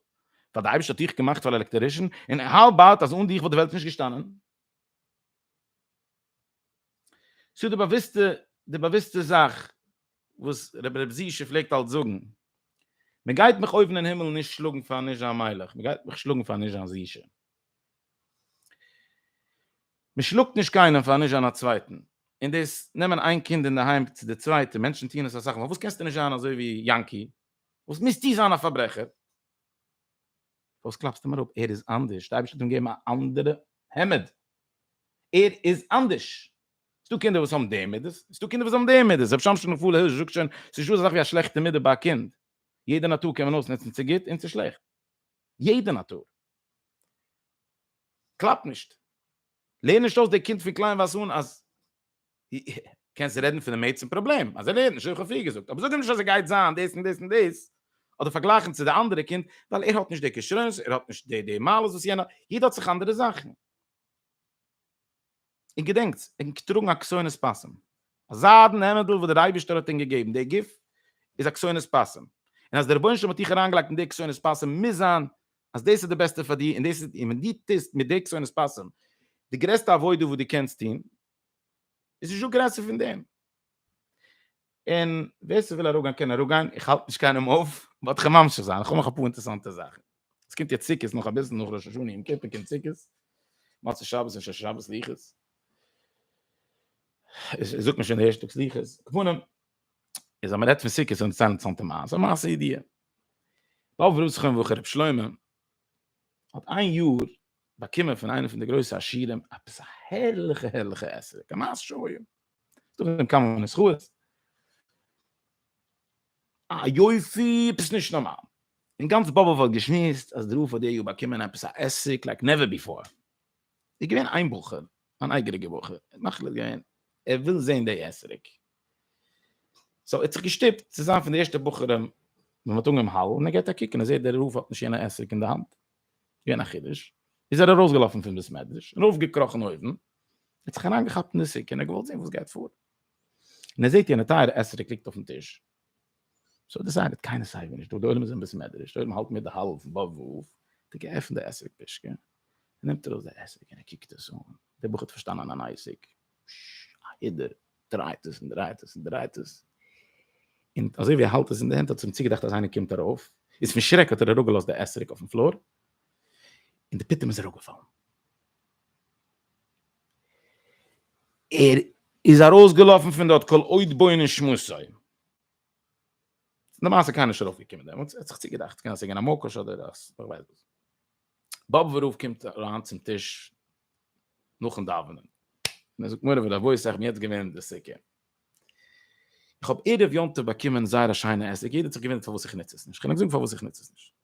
ווייל די אייבערשטער האט דיך געמאכט פאר א עלעקטערישן, און האו אבאוט אז אן דיך וואלט די וועלט נישט געשטאנען? ס'איז די באוויסטע די באוויסטע זאך וואס רבי רבי זי ש פלעגט אלץ זאגן, מען גייט מיך אויבן אין הימל נישט שלאגן פאר נישט זיין מלך, מען גייט מיך שלאגן פאר נישט זיין זי ש. מען שלאגט נישט קיינעם פאר נישט זיין א צווייטן, און דאס נעמען איין קינד אינדערהיים צו די צווייטע, מענטשן טוען עס אסאך מאל, פארוואס קענסטו נישט זיין אזוי ווי יענקי? פארוואס מוזטו זיין א פארברעכער? פארוואס קלאפסטו אים אראפ? ער איז אנדערש, די אייבערשטער האט אים געגעבן א אנדערע העמד, ער איז אנדערש, ס'דא קינדער וואס האבן די מידות, און ס'דא קינדער וואס האבן די מידות, רבי שמשון מפאלע הירש זאגט שוין, ס'נישט דא אזא זאך ווי א שלעכטע מידה ביי א קינד, יעדע נאטור קען מען אויסנוצן צו גוט און צו שלעכט, יעדע נאטור. קלאפ נישט, לערן נישט אויס די קינד פון קליינווייז אן אז. קענסט רעדן פון דעם עצם פראבלעם אז ער לערנט נישט, אויב איך האב פריער געזאגט, אבער זאג אים נישט אז ער גייט זיין דאס און דאס און דאס, אדער פארגלייכן צו די אנדערע קינד, ווייל ער האט נישט די כשרונות, ער האט נישט די די מעלות וואס יענער האט, יעדער האט זיך אנדערע זאכן. און געדענקטס, ער קען טראגן א כסונת פסים, א זיידן העמעדל וואס דער אייבישטער האט אים געגעבן, די גוף איז א כסונת פסים, און אז דער רבונו של עולם האט דיך אריינגעלייגט אין די כסונת פסים מוז זיין אז דאס איז די בעסטע פאר דיר און דאס איז און ווען דו טוסט מיט די כסונת פסים די גרעסטע עבודה וואס דו קענסט טון, איז נישטא גרעסער פון דעם. און ווער ס'וויל אראפגיין קען אראפגיין, איך האלט נישט קיינעם אויף, באט כ'וועל ממשיך זיין, כ'האב נאך אפאר אינטערעסאנטע זאכן. עס קומט יעצט סוכות נאך אביסל, נאך ראש השנה יום כיפור קומט סוכות, מוצאי שבת און שש שבת סליחות, זאגט מען שוין די ערשטע טאג סליחות, פנים. איז אז מען רעדט פון סוכות און צען צאנטע מייז, א מעשה ידיע. באב רוסכן וואו רב שלמה האט איין יאר באקומען פון איינע פון די גרויסע עשירים עפעס א הערליכע הערליכע עסער, א מעשה שוים. דא ווען קאם אן איז חוה. א יופי, עפעס נישט נארמאל. אין גאנץ באבוב האט געשמועסט אז דרוף האט די יאר באקומען עפעס א עסק לייק נעווער ביפאר. איז געווען איין בחור, אן אייגעריגע בחור, מאכליך געווען ער וויל זען די עסריק. סאו ער האט זיך געשטופט צו זיין פון די ערשטע בחורים ווען מען האט אנגעהויבן האלן און ער געט א קוק און ער זעט דער רב האט נישט יענע עסק אין די האנט געווען א חידוש איז ער ארויסגעלאפן פון בית מדרש און ארויפגעקראכן אויבן ער האט זיך אריינגעכאפט אין די סוכה און ער האט געוואלט זען וואס גייט פאר און ער זעט יענע טייערע עסק ליגט אויפן טיש סאו ער דעסיידעט קיינער סייווי נישט דא די עולם איז אין בית מדרש די עולם האלט מיט די האלל פון בב וו האט ער געעפנט די עסק פישקע און נעמט ארויס די עסק און ער קוקט עס אן דער בחור האט פארשטאנען אן עסק א הידור דרייט עס און דרייט עס און דרייט עס. און אזוי ווי ער האלט עס אין די הענט האט עס אים צוגעדאכט אז איינער קומט ארויף, איז פון שרעק האט ער אראפגעלאזט די עסריק אויפן פלאר, און די פיטום איז אראפגעפאלן. ער איז ארויסגעלאפן פון דארט כל עוד בוני שמותיו. למעשה קיינער נישט ארויפגעקומען דעמאלטס, ער האט זיך צוגעדאכט, קען זיין ס'איז געווען א מוקש אדער א ס'וועיז וואס. באבוב רב קומט אריין צום טיש, נאכן דאווענען. און ער זאגט מורי ורבותי איך בין יעצט געווען אין די סוכה. איך האב ערב יום טוב באקומען זייער א שיינע עסק, יעדער האט זיך געוואונדערט פארוואס איך נוץ עס נישט, כ'קען נישט זאגן פארוואס איך נוץ עס נישט.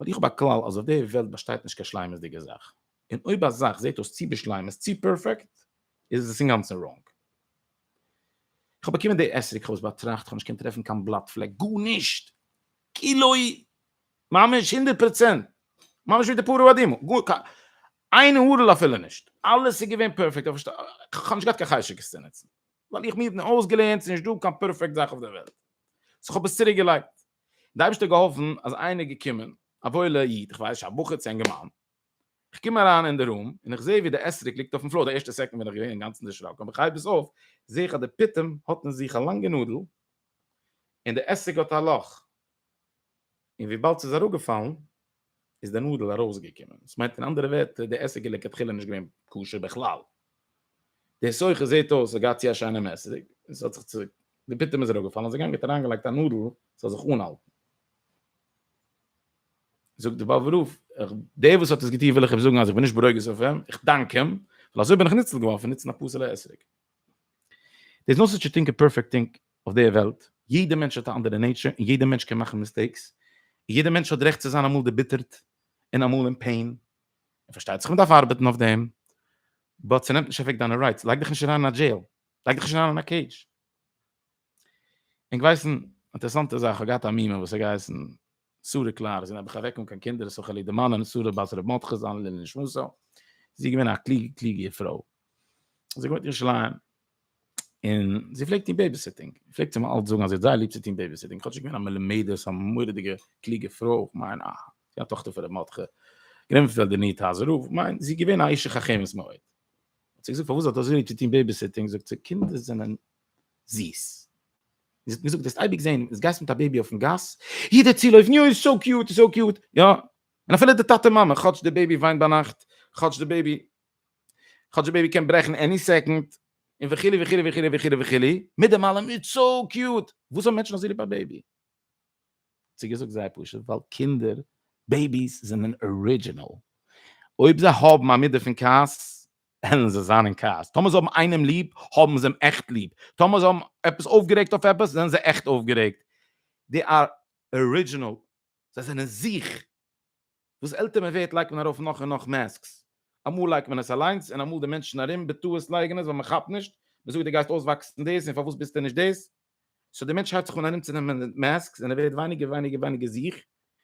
ווייל איך האב א כלל אז אויף די וועלט באשטייט נישט קיין שלימות'דיגע זאך. און אויב א זאך זעט אויס צו בשלימות, צו פערפעקט, איז עס אינגאנצן ראנג. איך האב באקומען די עסק, כ'האב עס באטראכט, כ'האב נישט געקענט טרעפן קיין בלאט פלעק, גארנישט! כאילו ממש הונדערט פראצענט, ממש ווי די פרה אדומה, גאר קיין איין הארעלע אפילו נישט, אלעס איז געווען פערפעקט, איך פארשטיי, איך האב נישט געהאט קיין חשק עס צו נוצן, ווייל איך מיר האט מען אויסגעלערנט ס'איז נישט דא קיין פערפעקט זאך אויף דער וועלט, סאו איך האב עס צוריק געלייגט, די אייבערשטער האט געהאלפן אז איינער איז געקומען, א וואוילע איד, איך ווייס נישט, א בחור צו א אינגערמאן, איך קום אריין אין די רום, און איך זע ווי די אסריק ליגט אויפן פלאר, די ערשטע סעקונד בין איך געווען אינגאנצן דערשראקן, אבער איך הייב עס אויף, זע איך אז די פיטום האט אין זיך א לאנגע נאדל, און די אסריק האט א לאך. און וויבאלד ס'איז אראפגעפאלן איז די נאדל ארויסגעקומען, דאס מיינט אין אנדערע ווערטער די עסק איז לכתחילה נישט געווען כשר בכלל, די סוחר זעט אויס האט געהאט צו א שיינעם עסק און ס'האט זיך צו די פיטום איז אראפגעפאלן האט זיך גענגעט אריינגעלייגט א נאדל ס'זאל זיך אנהאלטן. זאגט די באבע רוף איך דער וואס האט עס געטון וויל איך אים זאגן אז איך בין נישט ברוגז אויף אים, איך דאנק אים, ווייל אזוי בין איך ניצול געווארן פון נוצן א פסול'ע עסק. דעיס נושא טשעטינג איז פערפעקט טינק אויף דער וועלט, יעדער מענטש האט א אנדערע נעיטשער און יעדער מענטש קען מאכן מיסטעיקס, און יעדער מענטש האט רעכט צו זיין אמאל דערביטערט און אמאל אין פעין, און פארשטייט זיך מ'דארף ארבעטן אויף דעם, באט ס'נעמט נישט אוועק דיינע רייטס, לייג דיך נישט אריין אין א דזשעיל, לייג דיך נישט אריין אין א קעידזש. ענק ווייסן, אינטערעסאנטע זאך, כ'האב געהאט א מומע וואס האט געהייסן. שרה קלאר זי נעמט דיך אוועק אן קיין קינדער סה כ ליב די מאן און שרה בת ר' מרדכי ז ל לעילוי נשמתו זי איז געווען א קלוגע קלוגע פרוי זי האט געוואוינט אין ירושלים און זי פלעגט טון בעיביסיטינג פלעגט זי מיר אלץ זאגן אז זי האט זייער ליב צו טון בעיביסיטינג כאטשיג געווען א מלומדת א מורא'דיגע קלוגע פרוי איך מיין א א טאכטער פון ר' מרדכי גענומען פון די ניו טאזער רב כ'מיין זי איז געווען א אשת חכמת מאוד האט זי געזאגט פארוואס זי האט אזוי ליב צו טון בעיביסיטינג זאגט זי קינדער זענען זיס. זי האט מיר געזאגט וועסט אייביג זען ווען גייסט מיט א בעבי אויפן גאס, יעדער צולויפן יא איז סאו קיוט איז סאו קיוט, יא, און אפילו די טאטע מאמע, כאטש די בעבי וויינט ביינאכט, כאטש די בעבי, כאטש די בעבי קען ברעכן עני סעקאנד, און וכו' וכו' וכו' וכו' וכו', מיט דעם אלעם איז סאו קיוט, וואס האבן מענטשן אזוי ליב א בעבי? האט זי געזאגט זייער פשוט, ווייל קינדער, בעביס, זענען ארידזשינעל, אויב זיי האבן א מידה פון כעס, וועלן זיי זיין אין כעס. טאמער זיי האבן איינעם ליב, האבן זיי אים עכט ליב. טאמער זיי האבן עפעס אויפגערעגט אויף עפעס, זענען זיי עכט אויפגערעגט. דעי אר ארידזשינעל. זיי זענען זיך. וואס עלטער מען ווערט לייגט מען ארויף נאך און נאך מעסקס. אמאל לייגט מען עס אליינס, און אמאל די מענטשן ארום בטעות לייגן עס ווייל מען כאפט נישט. מען זאגט דו גייסט אויסוואקסן דאס און פארוואס ביסטו נישט דאס. סאו דער מענטש הייבט זיך אן ארומצונעמען מיט מעסקס און ער ווערט ווייניגער און ווייניגער און ווייניגער זיך,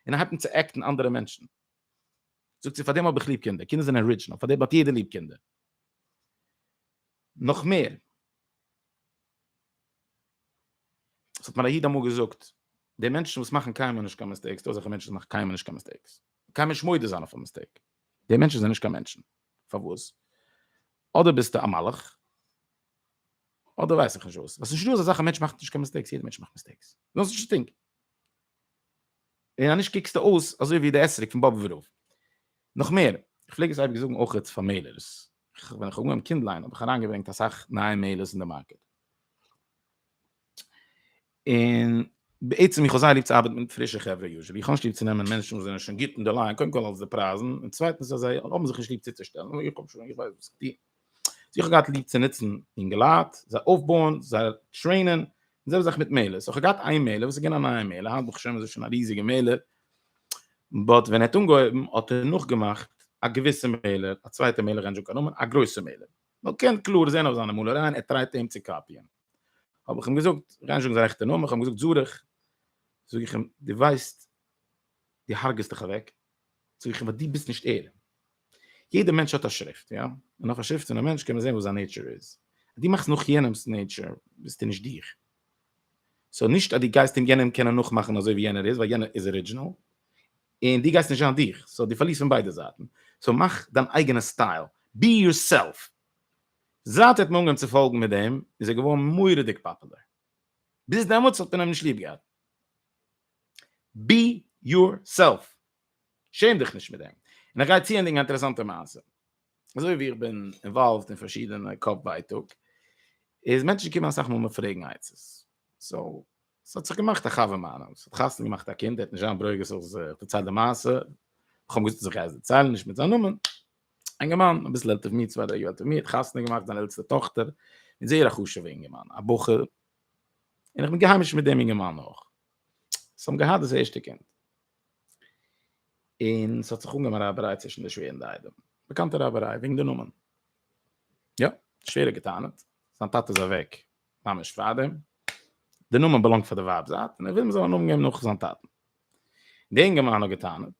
און ער הייבט אן צו עקטן אנדערע מענטשן. זאגט זי, פאר דעם האב איך ליב קינדער, קינדער זענען ארידזשינעל, פאר דעם האט יעדער ליב קינדער. נאך מער, עס האט מיר א איד אמאל געזאגט, די מענטשן וואס מאכן קיינמאל נישט קיין מיסטעיקס, דא אזעלכע מענטשן וואס מאכן קיינמאל נישט קיין מיסטעיקס, קיינמאל נישט מודה זיין אויף א מיסטעיק, די מענטשן זענען נישט קיין מענטשן. פארוואס? אדער ביסטו א מלאך, אדער ווייס איך נישט וואס. עס איז נישטא אזא זאך א מענטש מאכט נישט קיין מיסטעיקס, יעדער מענטש מאכט מיסטעיקס, נאו זיך נישט צו טינקען. און אנישט קוקסטו אויס אזוי ווי די עסריק פון באבוב ורוב. נאך מער, איך פלעג עס אייביג זאגן אויכעט פאר מעלערס, ווען איך האב אנגעהויבן קינדליין האב איך אריינגעברענגט אסאך נייע מעלערס אין די מארקעט, און בעצם איך האב זייער ליב צו ארבעטן מיט פרישע חברה יושבי, איך האב נישט ליב צו נעמען מענטשן וואס זענען שוין גוט אין די ליין, קודם כל אלס די פרייזן, און צווייטנס אז זיי האבן זיך נישט ליב צוצושטעלן, איך האב שוין, איך ווייס וואס איך טוה. זי האט געהאט ליב צו נוצן אינגעלייט, זיי אויפבויען, זיי טרעינען, און זעלבע זאך מיט מעלער. סאו כ'האב געהאט איין מעלער וואס איז געווען א נייע מעלער, היינט ברוך השם איז עס שוין א ריזיגע מעלער, באט ווען ער האט אנגעהויבן האט ער נאכגעמאכט א געוויסע מעלער, א צווייטע מעלער כ'גיי נישט זאגן קיין נאמען, א גרויסע מעלער. מ'קען קלאר זען אויף זיינע מאלערייען ער טרייט אים צו קאפיען. האב איך אים געזאגט, כ'גיי נישט זאגן זיין רעכטע נאמען, כ'האב אים געזאגט זארעך, זאג איך אים, דו ווייסט, די הרג'סט דיך אוועק, זאג איך אים ווייל די ביסט נישט ער, יעדע מענטש האט א שריפט יא, און אויף א שריפט פון א מענטש קען מען זען וואס זיין נעיטשער איז, אז די מאכסט נאך יענעמס נעיטשער ביסטו נישט דיך, סאו נישט אז די גייסט אין יענעם קענען נאכמאכן אזוי ווי יענער איז ווייל יענער איז ארידזשינעל, און די גייסט נישט זיין דיך, סאו די פארלירסט פון ביידע זייטן, סאו מאך דיין אייגענע סטייל, בי יור סעלף, זייט ער האט מיר אנגעהויבן צו פאלגן מיט דעם איז ער געווארן מוראדיג פאפולער, ביז דעמאלטס האט מען אים נישט ליב געהאט. בי יור סעלף, שעם דיך נישט מיט דעם. און איך גיי צוענדיגן א אינטערעסאנטע מעשה. אזוי ווי איך בין אינוואלווד אין פארשידענע קאפ ווייטאג, איז מענטשן קומען אסאך מאל מיר פרעגן עצות. סאו, ס'האט זיך געמאכט א חבר מיינעם, ס'האט חתונה געמאכט א קינד, ער האט נישט זיין ברוגז אז איך דערצייל די מעשה, איך האב געוואוסט אז איך גיי עס דערציילן, נישט מיט זיין נאמען, אינגערמאן, אביסל עלטער פון מיר, צוויי דריי יאר עלטער פון מיר, האט חתונה געמאכט זיין עלטסטע טאכטער, מיט זייער א חשוב'ע אינגערמאן, א בחור און איך בין געהיימישט מיט דעם אינגערמאן אויך. זיי האבן געהאט דאס ערשטע קינד. און עס האט זיך אנגעהויבן א רייבעריי צווישן די שווער און די איידעם. באקאנטע רייבעריי, וועגן די נאמען. יא, די שווער האט גע'טענה'ט, זיין טאטע איז אוועק ממש פארדעם. די נאמען באלאנגט פאר די ווייב זייט, און ער וויל מ'זאל א נאמען געבן נאך זיין טאטן. די אינגערמאן האט גע'טענה'ט,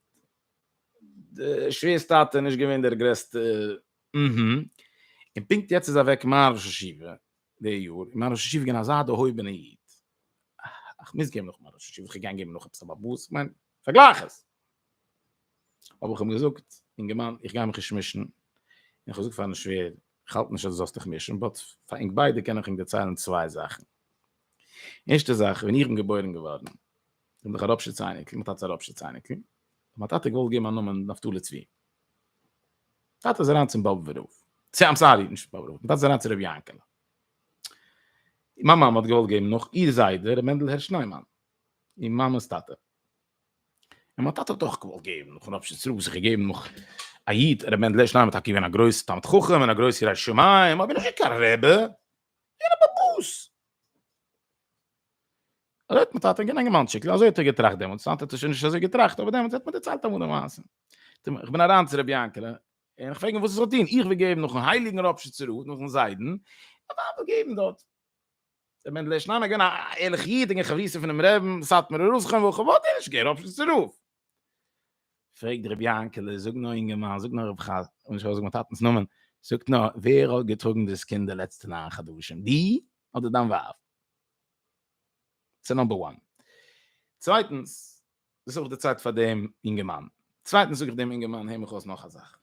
די שווער'ס טאטע איז נישט געווען דער גרעסטע, אההה. און פונקט יעצט איז אוועק מר' ראש ישיבה, די יאר איז מיין ראש ישיבה געווען אזא דערהויבענע איד, איך מוז געבן נאך מיין ראש ישיבה, איך געגען געבן נאך עפעס א באבוס, איך מיין פארגלייך עס, אבער איך האב אים געזאגט, אינגערמאן איך גיי מיך נישט מישן, און איך האב געזאגט פארן שווער, איך האלט נישט אז דו זאלסט דיך מישן, באט פאר אונז ביידע קען איך אים דערציילן צוויי זאכן, ערשטע זאך ווען איך בין געבוירן געווארן, בין איך א ראפשיץ אייניקל, מיין טאטע איז א ראפשיץ אייניקל, מיין טאטע האט געוואלט געבן א נאמען נפתלי צבי, טאטע איז אריין צום באבובער רב. סי איים סארי, נישט באבובער רב, טאטע איז אריין צו רבי יענקעלע. מיין מאמע האט געוואלט געבן נאך איר זיידע רבי מענדל הערש ניימאן, איר מאמע'ס טאטע. און מיין טאטע האט אויך געוואלט געבן נאך און אפשר צוריק זיך געגעבן נאך א איד, רבי מענדל הערש ניימאן איז טאקע געווען א גרויסער תלמיד חכם און א גרויסער ירא שמים, אבער נישט קיין רבי, געווען א באבוס. אזוי האט מיין טאטע גענאנגען מיין אנטשיקל, אזוי האט ער געטראכט דעמאלטס, היינט האט ער שוין נישט אזוי געטראכט, אבער דעמאלטס האט מען דערציילט אמאל די מעשה. איך בין אריין צו רבי יענקעלע, און איך פרעג אים וואס ער זאל טון, איך וויל געבן נאכן הייליגן רבש'צער רוט, נאכן זיידן, א ווייב זאל געבן דארט. רבי מענדל הערש ניין, א געווען א ערליכע איד, אינגער חביב פונעם רעבן, סאטמארער ראש חנ וכו', וואלט ער נישט געגעבן רבש'צער רוט. פרעגט רבי יענקעלע, זאג נאר אינגערמאן, זאג נאר רב ח, און נישט ארויסזאגן מיין טאטנ'ס נאמען, זאגט נאר, ווער האט געטראגן דאס קינד די לעצטע ניין חדשים, דו אדער דיין ווייב? ס'נאמבער וואן. צווייטנס, זוך איך די צייט פאר דעם אינגערמאן. צווייטנס זאג איך דעם אינגערמאן, הער מיך אויס נאך א זאך.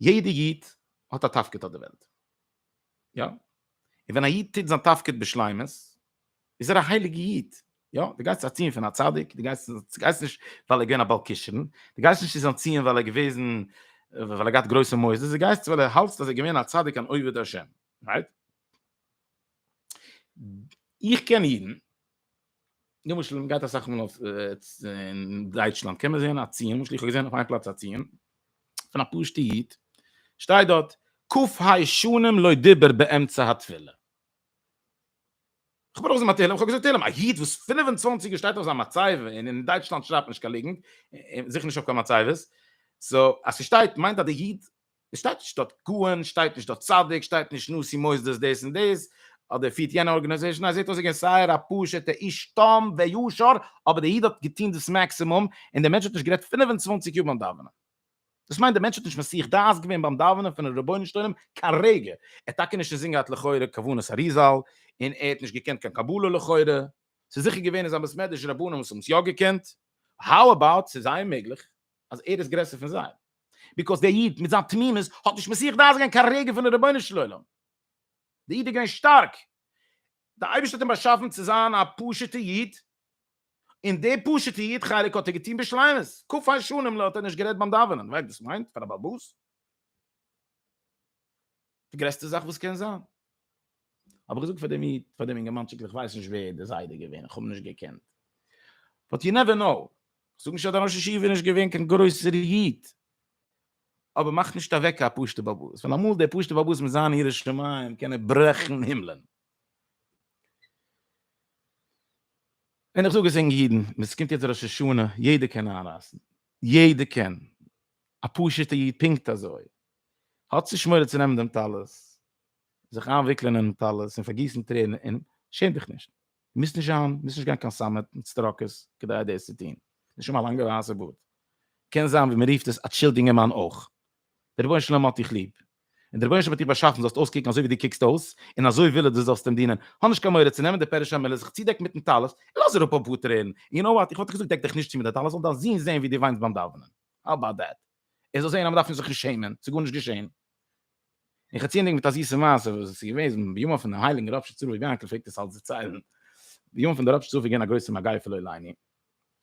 יעדע איד האט א תפקיד אויף די וועלט. יא. און ווען א איד טוט זיין תפקיד בשלימות, איז ער א הייליגע איד. יא. דו גייסט ארציען פון א צדיק, דו גייסט דו גייסט נישט ווייל ער געווען א בעל כשרון, דו גייסט נישט צו זיין ציון ווייל ער געוועזן ווייל ער געהאט גרויסע מוסדות, דו גייסט ווייל ער האלטסט אז ער געווען א צדיק אן עובד השם. רייט? איך קען אידן. למשל מען גייט אסאך מאל אויף אין דייטשלאנד קען מען זען א ציון למשל איך האב געזען אויף איין פלאץ א ציון פון א פשוטע איד שטייט דארט קוף היי שנים לא דיבר באמצע התפילה איך בין אויס מיט תהילים איך האב געזאגט תהילים א איד וואס פֿינף און צוואַנציק יאר שטייט אויף זיין מצבה און אין דייטשלאנד שרייבט נישט קיין ליגנט זיכער נישט אויף קיין מצבות סאו אז ס'שטייט מיינט אז די איד עס שטייט נישט דארט כהן, שטייט נישט דארט צדיק, שטייט נישט נשיא מוסדות דאס און דאס, אדער פירט יענע ארגענעזעישן, א זעט אויס געווען זייער א פשוטע איש תם וישר, אבער דער איד האט געטון דאס מעקסימום, און דער מענטש האט נישט גערעדט פֿינף און צוואַנציק יאר ביים דאווענען. דאס מיינט דער מענטש האט נישט מסיח דעת געווען ביים דאווענען פונעם רבונו של עולם קיין רגע, ער האט טאקע נישט אינזין געהאט לכאורה כוונת האריזל, און ער האט נישט געקענט קיין קבלה לכאורה, ס'איז זיכער געווען אין זיין בית מדרש רבנים וואס האבן עס יא געקענט, האו אבאוט ס'איז זייער מעגליך אז ער איז גרעסער פון זיי? ביקאויס דער איד מיט זיין תמימות האט נישט מסיח דעת געווען קיין רגע פון די רבונו של עולם, דער איד איז געווען שטארק, דער אייבערשטער האט אים באשאפן צו זיין א פשוט'ע איד, און די פשוט'ע איד חלק האט ער געטון בשלימות, ק י שנים ל האט ער נישט גערעדט ביים דאווענען, ווייסט וואס ס'מיינט פאר א בעל באס? די גרעסטע זאך וואס קען זיין. האב איך געזאגט פאר דעם איד, פאר דעם אינגערמאנטשיק, איך ווייס נישט ווער די זיידע איז געווען, איך האב אים נישט געקענט. באט יו נעווער נאו. איך זאג נישט אז דער ראש ישיבה איז נישט געווען קיין גרויסער איד. אבער מאך נישט אוועק א פשוט'ע באבא. ווייל אמאל דער פשוט'ער באבא מיט זיין יראת שמים קען ער ברעכן הימלען. און איך זאג עס אינג אידן, עס קומט יעצט ראש השנה, יעדער קען איינרייסן. יעדער קען. א פשוט'ער איד פונקט אזוי. האָט זי שמורה צו נעמען דעם טלית, זיך אײַנוויקלען אינעם טלית און פֿאַרגיסן טרערן און, שעם דיך נישט! דו מוזט נישט זײַן, מוזט נישט גיין קיין סאַמעט מיט סטראָקעס, כּדי דאָס צו טאָן. נישט אַמאָל אַ לאַנגער ווײַסער באָרד קען זײַן, ווי מע רופֿט עס, אַ טשילד יונגערמאַן אויך. דער רבונו-של-עולם האָט דיך ליב, און דער רבונו-של-עולם האָט דיך באַשאַפֿן, זאָלסט אויסקוקן אַזוי, ווי דו קוקסט אויס, און אַזוי וויל ער, דו זאָלסט אים דינען. האָב נישט קיין מורא צו נעמען די פּערישע מילה, זיך צודעקן מיטן טלית און לאָז אַראָפּ אַ פּאָר טרערן. יו נאָו וואַט, איך וואָלט דיך געזאָגט, דעק דיך נישט צו מיט דער טלית, זאָל דײַן זון זען, ווי דו וויינט בײַם דאַוונען. האַו אַבאַוט דעט? ער זאל זען אז מען דארף זיך נישט שעמען, ס'איז גארנישט געשען. און חצי-ענדיג מיט א זיסע מעשה וואס איז געוועזן בימיו פון דעם הייליגן רב שצריך ווי יענקל פלעגט עס אלץ דערציילן, בימיו פון דער רב שצריך איז געווען א גרויסע מגיפה פון לוי' לעיני,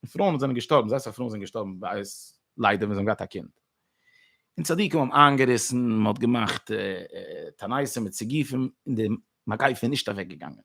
און פרויען וואס זענען געשטארבן, זייער אסאך פרויען זענען געשטארבן בעת ליידער ווען זיי האבן געהאט א קינד. און צדיקים האבן איינגעריסן, מען האט געמאכט תענית מיט סיגופים, און די מגיפה איז נישט אוועק געגאנגען.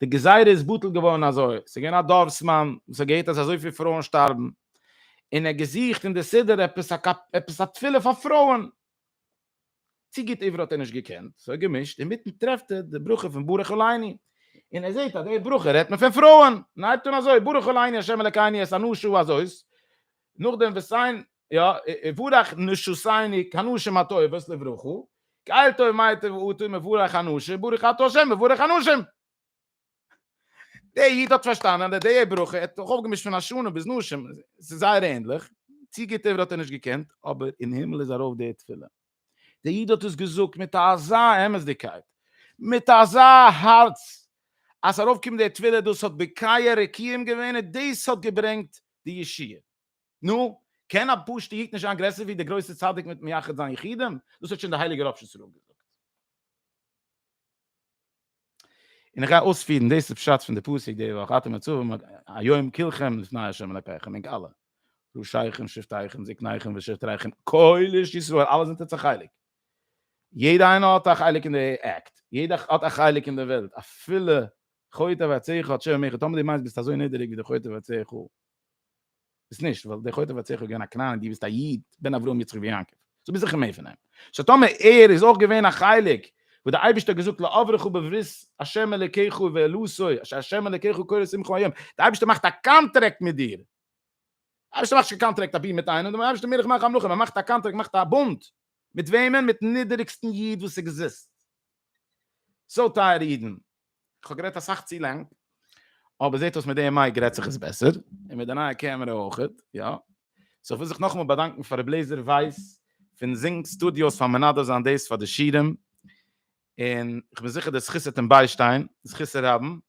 די גזירה איז בטל געווארן אזוי, ס'איז געווען א דארפסמאן וואס האט געהערט אז אזויפיל פרויען שטארבן, און ער האט געזוכט אין די סידור עפעס א תפילה פאר פרויען, צו גוט עברית האט ער נישט געקענט, סאו ער האט געמישט, אינמיטן טרעפט ער די ברכה פון ברך אל עיני, און ער זעהט אז די ברכה רעדט מען פון פרויען, און ער הייבט אן אזוי, ברך אל עיני ה' אלקינו את אנשי ואת נאכדעם וועסט זיין יא יבורך נשותיני כנשים הטובות לברוכו כאל טוב מה יטב אותי מבורך אנשים ברוך אתה ה' מבורך אנשים. דער איד האט פארשטאנען אז די די י ברכה האט זיך אויפגעמישט פון השנה ביז נשים, עס איז זייער ענדליך, צו גוט עברי האט ער נישט געקענט, אבער אין הימל איז ארויף די תפילה, דער איד האט עס געזאגט מיט אזא אמת'דיגקייט, מיט אזא הארץ, אז ס'ארויפגעקומען די תפילה דאס האט בקעה רקיעים געווען און דאס האט געברענגט די ישועה. נו, קען א פשוטע איד נישט זיין גרעסער ווי דער גרויסער צדיק מיט מייחד זיין יחידים? דאס האט שוין דער הייליגער ראב ש ז ל געזאגט. און איך גיי אויספירן, דאס איז פשט פון די פסוק די וואך, אתם עצובים היום כולכם לפני ה' אלקיכם, ענק אלע, ראשיכם שבטיכם זקניכם ושטריכם, כל איש ישראל, אלע זענט אונז א חלק. יעדער איינער האט א חלק אין די עקט, יעדער האט א חלק אין די וועלט, אפילו חוטא ועציך האט שווה מערכה, טאמער דו מיינסט ביסט אזוי נידעריג ווי דער חוטא ועציך האט, ביסט נישט, ווייל דער חוטא ועציך איז געווען א כנעני, דו ביסט א איד, בן אברהם יצחק ויעקב, סאו ביסט זיכער מער פון אים, סאו טאמער ער איז אויך געווען א חלק וואס דער אייבערשטער האט געזאגט לא אברכו בברית השם אלקיך ואלוסי אשר השם אלקיך קורא שמך היום, דער אייבערשטער מאכט א קאנטרעקט מיט דיר, דער אייבערשטער מאכט נישט קיין קאנטרעקט אבי מיט איינעם, דער אייבערשטער מלך מלכי המלכים, ער מאכט א קאנטרעקט, מאכט א בונד, מיט וועמען? מיט'ן נידעריגסטן איד וואס עקזיסט, סאו טייערע אידן, כ'האב גערעדט אסאך צו לאנג, אבער זעט אויס מיט די מייק רעדט זיך עס בעסער, און מיט די נייע קעמערע אויך, יא. סאו כ'וויל זיך נאכאמאל באדאנקן פאר רבי לעזער ווייס פון זינג סטודיאוס פאר מנדב זיין דאס פאר די שירים, און כ'בין זיכער די זכות וועט אים ביישטיין, זכות הרבים,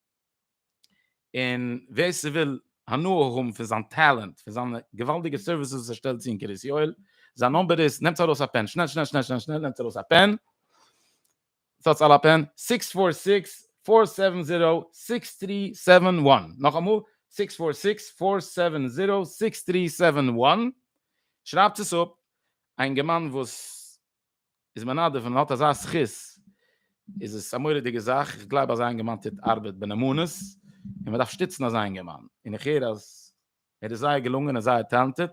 און ווער ס'וויל הנאה האבן פון זיין טעלענט, פון זיינע געוואלדיגע סערוויסעס וואס ער שטעלט צו אין קרית יואל, זיין נומבער איז, נעמטס ארויס א פען, שנעל שנעל שנעל שנעל שנעל נעמטס ארויס א פען. ס'האט סאל א פען? סיקס פאר סיקס פאר סעווען זירא סיקס טרי סעווען וואן, נאכאמאל סיקס פאר סיקס פאר סעווען זירא סיקס טרי סעווען וואן, שרייבטס עס אפ, א אינגערמאן וואס איז מנדב און האט אזא זכות איז עס א מורא'דיגע זאך, איך גלייב אזא אינגערמאן טוט ארבעט בנאמנות און מען דארף שטיצן אזא אינגערמאן, און איך הער אז ער איז זייער געלונגען און זייער טעלענטעד,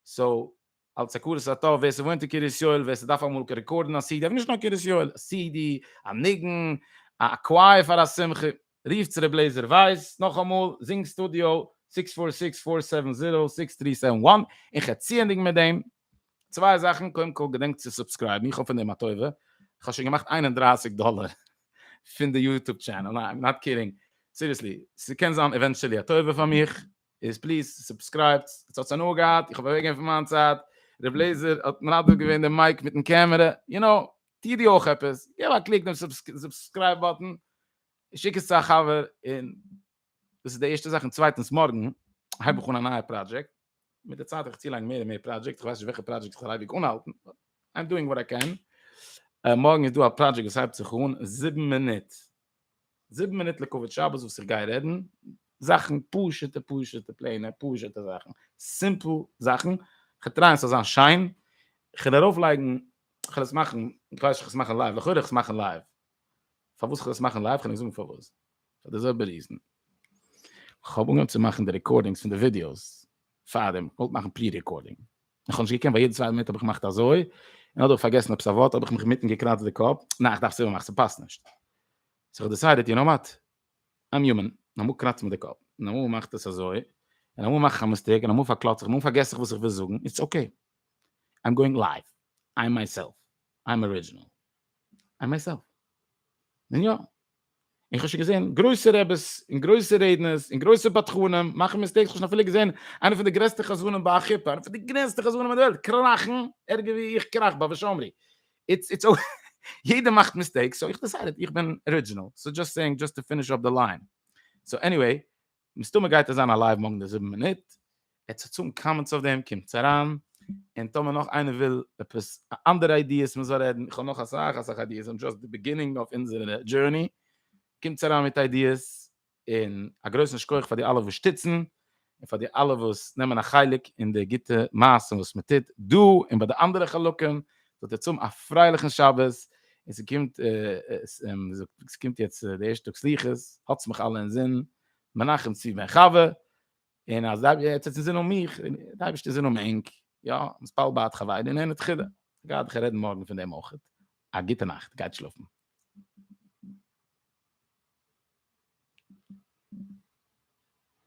סאו אלס הכרת הטוב ווער ס'וואוינט אין קרית יואל ווער ס'דארף אמאל רעקארדן א סידי אבער נישט נאר קרית יואל א סידי א ניגון א קווייער פאר א שמחה רופטס ר' לעיזער ווייס נאכאמאל זינג סטודיאו זיכס פאר זיכס פאר סעווען זירא זיכס טרי סעווען וואן און כ'ציענדיג מיט דעם צוויי זאכן קודם כל געדענקט צו סובסקרייבן איך האב פון דעם א טובה כ'האב שוין געמאכט איין און דרײַסיק דאלער פון די יוטוב טשענעל ניין איים נאט קידינג סיריעסלי ס'קען זיין עווענטשעלי א טובה פאר מיך. איז פליז סובסקרייבט, עס האט הנאה געהאט, איך האב אוועק געווען פון מיין צייט, רב לעיזער האט מנדב געווען די מייק מיטן קעמערע, יו נאו, טוה דו אויך עפעס, געב א קליק דעם סובסקרייב באטן, שיק עס צו א חבר, און דאס איז די ערשטע זאך, און צווייטנס מארגן הייב איך אן א נייע פראדזשעקט, מיט די צייט וועל איך צולייגן מער און מער פראדזשעקטס, איך ווייס נישט וועלכע פראדזשעקט איך זאל אייביג אנהאלטן, באט איי עם דואינג וואט איי קען, מארגן איז דא א פראדזשעקט וואס הייבט זיך אן זיבן מינוט זיבן מינוט לכבוד שבת וואס איך גיי רעדן, זאכן פשוט'ע פשוט'ע פלעינע פשוט'ע זאכן, סימפל זאכן, כ'וועל טרייען ס'זאל זיין שיין, כ'וועל ארויף לייגן, כ'וועל עס מאכן, איך ווייס נישט כ'וועל עס מאכן לייוו, לכאורה כ'וועל עס מאכן לייוו, פארוואס כ'וועל עס מאכן לייוו, כ'קען נישט זאגן פארוואס, פאר די זעלבע ריזען, כ'האב אנגעהויבן צו מאכן די רעקארדינגס פון די ווידיאוס פארדעם, כ'וואלט מאכן פרי רעקארדינג, איך האב נישט געקענט, ביי יעדע צווייטע מינוט האב איך געמאכט אזוי, און אדער פארגעסן עפעס א ווארט, האב איך מיך מיטן געקראצט די קאפ, ניין איך דארף עס איבערמאכן, ס'פאסט נישט. סאו איך דיסיידעד, יו נאו וואט, איים יומען, און אמאל קראץ איך מיר די קאפ, און אמאל מאכט עס אזוי, און אמאל מאך איך א מיסטעיק, און אמאל פארקלאץ איך, אמאל פארגעס איך וואס איך וויל זאגן, איטס אקעי. איים גאוינג לייוו, איים מיי סעלף, איים ארידזשינעל, איים מיי סעלף. און יא, איך האב שוין געזען גרויסע רעבעס און גרויסע רעדנערס און גרויסע בדחנים מאכן מיסטעיקס, איך האב שוין אפילו געזען איינע פון די גרעסטע חזנים ביי א חופה, איינע פון די גרעסטע חזנים אין די וועלט קראכן ערגער ווי איך קראך ביי ושאמרי, איטס איטס אוי יעדער מאכט מיסטעיקס, סאו איך דיסיידעד איך בין ארידזשינעל, סאו דזשאסט סעיאינג דזשאסט טו פיניש אפ די ליין, סאו עניוועי מסתמא גייט עס זיין א לייוו מארגן די זיבן מינוט, עטס האט סאם קאמענטס אויף דעם קומטס אריין, און טאמער נאך איינער וויל עפעס אנדערע איידיעס מען זאל רעדן, איך האב נאך אסאך אסאך איידיעס, און דזשאסט די ביגינינג אויף אונזערע דזשורני, קומטס אריין מיט איידיעס, און א גרויסן שכח פאר די אלע וואס שטיצן, און פאר די אלע וואס נעמען א חלק אין די גוטע מעשים וואס מען טוט דא און ביי די אנדערע חלקים, זאגט ער צום א פרייליכן שבת, און ס'קומט ס'קומט יעצט די ערשטע טאג סליחות, האטס מיך אלע אינזין, מנחם צבי בן חוה, און אז די האטס יעצט אינזין אן מיך, די אייבערשטער איז אינעם ענק, יא, מספל בעת חוויידי און ענד חידה, גיידעך רעדן מארגן פון דעם אויך, א גוטע נאכט, גייט שלאפן.